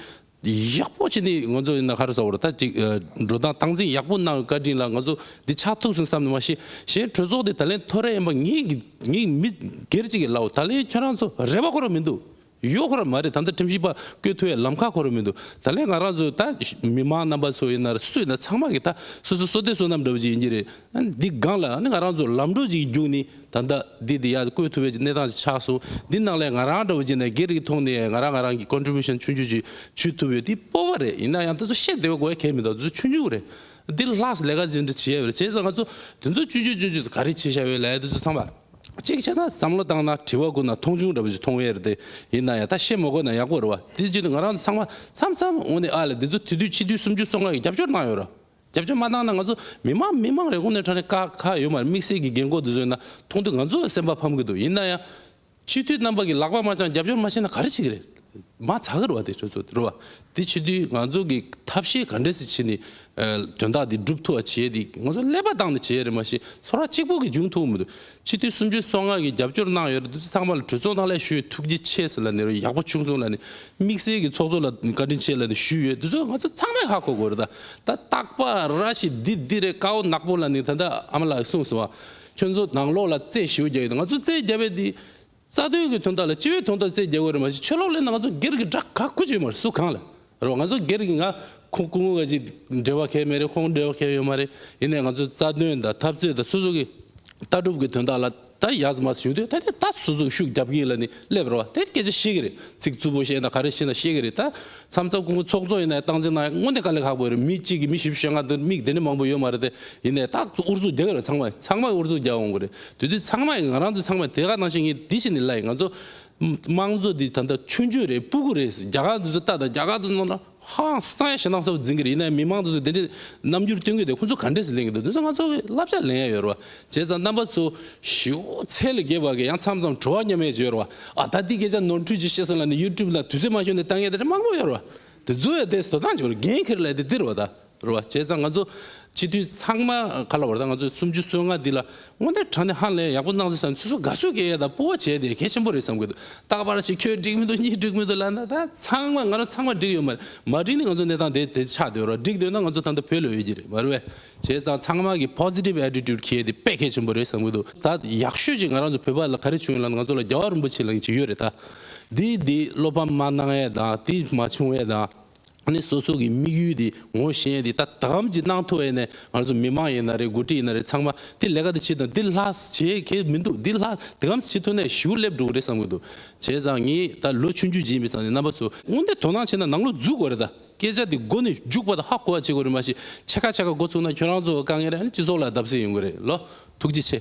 ཡག་པོ་བྱས་ནས་ང་ཚོ་ཡིན་ན་ཁར་ཟ་བར་ཐ་ཅིག་འགྲོ་སྟངས་སྟངས་འཛིན་ཡག་པོ་གནང་བའི་བཀའ་དྲིན་ལ་ང་ཚོ་འདི་ཆགས་ཐུབ་སོང་བསམ་ནས་མ་ཤེས་གཞན་གྲོས་ཚོགས་དེ་ད་ལན་ཐོ་རེངས་ཡིན་པ་ངེས་ཀྱི་ངས་མི་སྒེར་གཅིག་གི་ལའོ་ད་ལན་ཁྱོད་རང་ཚོ་རེ་བ་ཁོ་ར་མི་འདུག་ཡོད་ཁོ་ར་མ་རེད་ད་ལྟ་ཁྲིམས་ཞིབ་པ་བསྐོས་ཐུ་ཡ་ལམ་ཁ་ཁོ་ར་མི་འདུག་ད་ལན་ང་རང་ཚོ་ད་མི་མང་རྣམ་པ་ཚོ་ཡིན་ན་སུ་ཡིན་ན་ཚང་མ་གི་ད་སོ་སོའི་སོ་ལྟས་སོ་ནམ་འདྲ་བོ་ཅིག་ཡིན་གྱི་རེད་ཨ་ནི་འདི་སྒང་ལ་ཨ་ནི་ང་རང་ཚོ་ལམ་འགྲོ་གཅིག་གི་རྒྱུགས་ནི་ད་ལྟ་འདི་འདི་ཡག་བཀོད་ཐུབ་པའི་གནས་སྟངས་ཅིག་ཆགས་སོང། འདི་ནང་ལས་ང་རང་འདྲ་བོ་རྗེས་ནས་སྒེར་གྱི་ཐོག་ནས་ང་རང་ང་རང་གི Contribution ཆུང་ཆུང་ཅིག་ཞུས་ཐུབ་ཡོད་འདི་སྤོབས་པ་རེད་ཡིན་ན་ཡང་ད་གཟོད་བཤད་བདེ་བ་དགོས་ཡ་གལ་མི་འདུག་གཟོད་ཆུང་ཆུང་རེད། འདིར་ལྷགས་ལས་ཀ་ཅི་འདྲ་བྱེད་ཡ་བརེད་བྱས་ཙང་ང་ཚོ་དེ་ཚོ་ཅུང་ཅུང་ཅུང་ཅུང་ཟད་ག་རེ་བྱེད་ཤ་བའི་ལས་དེ་ཚོ་ཚང་མ་གཅིག་བྱས་ན་བསམ་བློ་བཏང་ན་དྲི་བ་བཀོད་ན་མཐོང་ཆུང་འདྲ་བོ་ཅིག་མཐོང་བས་རེད་དེ་ཡིན་ན་ཡང་ད་བཤད་མ་དགོས་ན་ཡག་པོ་རེད་བ་དེ་བརྗོད་དེ་ང་རང་ཚང་མ་མཚམས་མཚམས་འོག་ནས་ཨ་ལས་འདི་ཚོ་དེ་དུས་ཕྱི་དུས་སུམ་ཅུ་སོ་ལྔ་གི་རྒྱབ་སྐྱོར་གནང་ཡོད་ར། རྒྱབ་སྐྱོར་མ་བཏང་ན་ང་ཚོ་མི་དམངས་མི་དམངས་རེ་ཁོ་ནའི་ཕྲག་ནས་དཀའ་ཁག་ཡོད་མ་རེད་དམིགས་བསལ་གྱི་རྒན་རྒོན་དེ་ཚོའི་ནང་མཐོང་དུས་ང་ཚོ་ཡང་སེམས་པ་ཕམ་གྱི་འདུག་ཡིན་ན་ཡང། སྤྱི་འཐུས་རྣམ་པ་གྱི་ལག་པ་མ་བཅངས་རྒྱབ་སྐྱོར་མ་བྱས་ན་ག་རེ་བྱེད་ཀྱི་རེད། མ་ཚ་གི་རེད་བ་དེ་ཁྱོད་ཚོ་རེད་བ། དེ་བྱེད་དུས་ང་ཚོ་གི་ཐབས་ཤེས་ག་འདྲས་སུ་བྱས་ནས་དོན་དག་འདི་སྒྲུབ་ཐུབ་བ་བྱས་ཏེ་ང་ཚོ་ཀླད་པ་བཏང་ནས་བྱས་ཡ་རེད་མ་གཞི་ཚོར་བ་གཅིག་པོ་གིས་འབྱུང་ཐུབ་ཀྱི་མི་འདུག་སྤྱི་འཐུས་སུམ་ཅུ་སོ་ལྔ་གིས་རྒྱབ་སྐྱོར་གནང་ཡོད་རེད་འདུག་ཚེ་ཚང་པ་ལ་གྲོས་ཚོགས་ནང་ལས་ཞུ་ཡི་ཐུགས་རྗེ་ཆེ་ཟེར་ལ་ནི་རོ་ཡག་པོ་བྱུང་སོང་ལ་ནི་དམིགས་བསལ་གྱི་ཚོགས་གཙོ་ལ་བཀའ་དྲིན་ཆེ་ལ་ནི་ཞུས་ཡོད་འདུག་ཚོ་ང་ཚོ་ཚང་མས་ཧ་གོ་དགོས་རེད་ད་ད་སྟག་པ་ར་ཞིག་འདི་འདི་རེད་ཀ་བོ་ནག་པོ་ལ་ནི་ད་ད་ཨ་མ་ལགས་གསུངས་སོང་བ་ཁྱོད་ཚོ་དང་ལོག་ལ་རྩེད་ཞིའོ་རྒྱག་གི་འདུག་ང་ཚོ་རྩེད་རྒྱབ་པའི་འདི་རྩ་དོན་གྱི་དོན་དག་ལ་སྤྱི་བའི་དོན་དག་བརྩད་རྒྱག་གི་རེད་མ་གཞི་ཆོལ་ལོག་ལས་ན་ང་ཚོ་སྒེར་གྱི་དགྲ་ག་ཁུ་བྱུག་ཡོད་མ་རེད་སུ་གང་ལ་རེད་བ་ང་ཚོ་སྒེར་གྱི་ང་ཁོང་སྐུ་ངོ་ག་ཅིག་འབྲེལ་བ་གས་མེད་རེད་ཁོང་འབྲེལ་བ་གས་ཡོད་མ་རེད་ཡིན་ནའི་ང་ཚོའི་རྩ་དོན་དང་འཐབ་རྩོད་དང་སོ་སོ་གི་ལྟ་གྲུབ་གྱི་དོན་དག་ལ་ད་ཡག་ཟི་མ་ཟི་བྱུང་དུས་ད་དེ་ད་སོ་སོ་གི་ཤུགས་རྒྱབ་ཀྱི་ཡིན་ལ་ནི་སླེབས་རོགས་བ་དེ་སྐད་ཆ་ཤེས་ཀྱི་རེད་ཚིག་རྩུབ་པོ་བཤད་ད་ག་རེ་བཤད་ད་ཤེས་ཀྱི་རེད་ད། མཚམས་མཚམས་ཀུན་ཀུན་ཚོགས་ཚོགས་ཡིན་ནའི་སྟངས་འཛིན་གནང་དངོས་འདི་དཀའ་ལས་ཁག་པོ་རེད་མི་གཅིག་གིས་མི་བཞི་བཞི་ཞེ་ལྔ་འདི་མིག་དེ་འདྲའི་མང་པོ་ཡོད་མ་རེད་དེ་ཡིན་ནའི་རྟག་ཏུ་དབུར་གཙུག་རྒྱག་གི་རེད་ཚང་མ་ཚང་མས་དབུར་གཙུག་རྒྱག་འོང་གི་རེད་དེ་དུས་ཚང་མས་ང་རང་ཚོའི་ཚང་མས་དེ་ག་གནང་བཞིན་ངས་འདི་བྱས་འདི་གླ་ཡིན་ང་ཚོ་དམངས་གཙོ་འདི་ད་ལྟ་ཆུང་ཆུང་རེད་སྤུ་གུ་རེད་རྒྱ་གར་འདི་ཚོ་ལྟ་དང་རྒྱ་གར་དུ་ནང་ཧ་ཧང་སང་ཡ་ཞེ་སྡང་ས་བོ་འཛིན་གི་རེད་ཡིན་ནའི་མི་མང་འདི་ཚོ་འདི་འདྲའི་རྣམ་འགྱུར་སྟོན་གི་རེད་ཁོ་ཚོ་ག་འདྲས་སུ་གླེང་གི་འདུག་དེ་ཚོ་ང་ཚོ་ལབ་ཤ་ལེན་ཡ་ཡོད་རེད་བ། བྱས་ཙང་རྣམ་པ་ཚོ་ཞེའུ་ཚད་ལ་རྒས་པ་གི་ཡང་མཚམས་མཚམས་བྲོ་བ་མཉམ་མེད་ཅིག་ཡོད་རེད་བ། ཨ་ད་འདི་སྐད་ཆ་ནོར་འཁྲུལ་གྱིས་བཤད་སོང་ལ་ནི་ཡུ་ཀྲུབ་ལ་དུས་ཚོད་མ་ཤོར་ནས་ལྟ་ངན་དེ་འདྲ་མང་པོ་ཡོད་རེད་བ། དེ་ཚོ་ཡང་དེས་དོ་སྣང་བྱེད་དགོས་རེད་འགན་འཁྱེར་ལས་དེ་འདི་རེད་བ་ད་རེད་བ། བྱས་ཙང་ང་ཚོ་སྤྱི་མཐུན་ཚང་མ་ག་ལ་བར་ད་ང་ཚོའི་སུམ་ཅུ་སོ་ལྔ་འདི་ལ་སྔོན་དེར་དྲང་བདེན་ཧང་ལེན་ཡག་པོ་གནང་ཚུལ་བསམ་ཚུལ་སོ་དགའ་བསུ་སྐད་ཡག་དང་སྤོ་བ་བྱས་དེ་གལ་ཆེན་པོ་རེད་བསམ་གི་འདུག་ད་བར་ཞིག་ཁྱོད་འགྲིག་མི་འདུག་གཉིས་འགྲིག་མི་འདུག་ལ་ན་ད་ཚང་མ་ང་རང་ཚང་མ་འགྲིག་ཡོད་མ་རེད་མ་འགྲིག་ནི་ང་ཚོ་གནས་སྟངས་དེ་དེ་ཆགས་སྡོད་རེད་བ་འགྲིག་སྡོད་ན་ང་ཚོ་ད་ལྟ་བོད་ལ་ཡོད་ཀྱི་རེད་བ་རེད་བས། བྱས་ཙང་ཚང་མ་གི positive attitude གྱེས་ཏེ་དཔེ་གལ་ཆེན་པོ་རེད་བསམ་གྱི་འདུག་ད་ཡག་ཤོས་ཀྱི་ང་རང་ཚོ་བོད་པ་ལ་ག་རེ་བྱུང་ཡོད་ལ་ང་ཚོ་ལ་རྒྱ་བ་རིན་པོ་ཆེ་ལ་ཅི་ཡོད་རེད་ད། དེ་དེ་བློ་ཕམ་མ་གནང་ཡས་དང་དེ་མ་བྱུང་ཡས་དང། ནི་སོ་སོ་གི་དམིགས་ཡུལ་དེ་ངོ་ཤེས་ཏེ་ད་ད་གམ་ཅི་གནང་ཐུབ་ཡས་ནས་ང་ཚོ་མི་མང་ཡིན་ན་རེད་འགོ་ཁྲིད་ཡིན་ན་རེད་ཚང་མ་དེ་ལས་ཀ་དེ་བྱེད་དང་དེ་ལྷག་བྱེད་གལ་མི་འདུག་དེ་ལྷག་དེ་གམ་བྱེད་ཐུབ་ན་ཞུ་སླེབས་འགྲོ་གི་རེད་བསམ་གྱི་འདུག་བྱས་ཙང་ངས་ད་ལོ་ཆུང་རྒྱུ་བྱེད་མི་ཙང་ནས་རྣམ་པ་ཚོ་དངོས་འདས་དོ་སྣང་བྱེད་ན་ནང་ལོ་འཛུལ་དགོས་རེད་ད། སྐད་ཆ་འདི་མགོ་ནས་རྒྱུག་པ་དང་ཧ་གོ་བ་བྱེད་དགོས་རེད་མ་གཞི་ཕྱེད་ཀ་ཕྱེད་ཀ་འགོ་ཚུགས་ན་ཁྱོད་རང་ཚོ་དཀའ་ངལ་རེད་ནི་སྤྱི་ཚོགས་ལ་བརྡབ་གསིག་ཡོང་གི་རེད་ལོ་ཐུགས་རྗེ་ཆེ།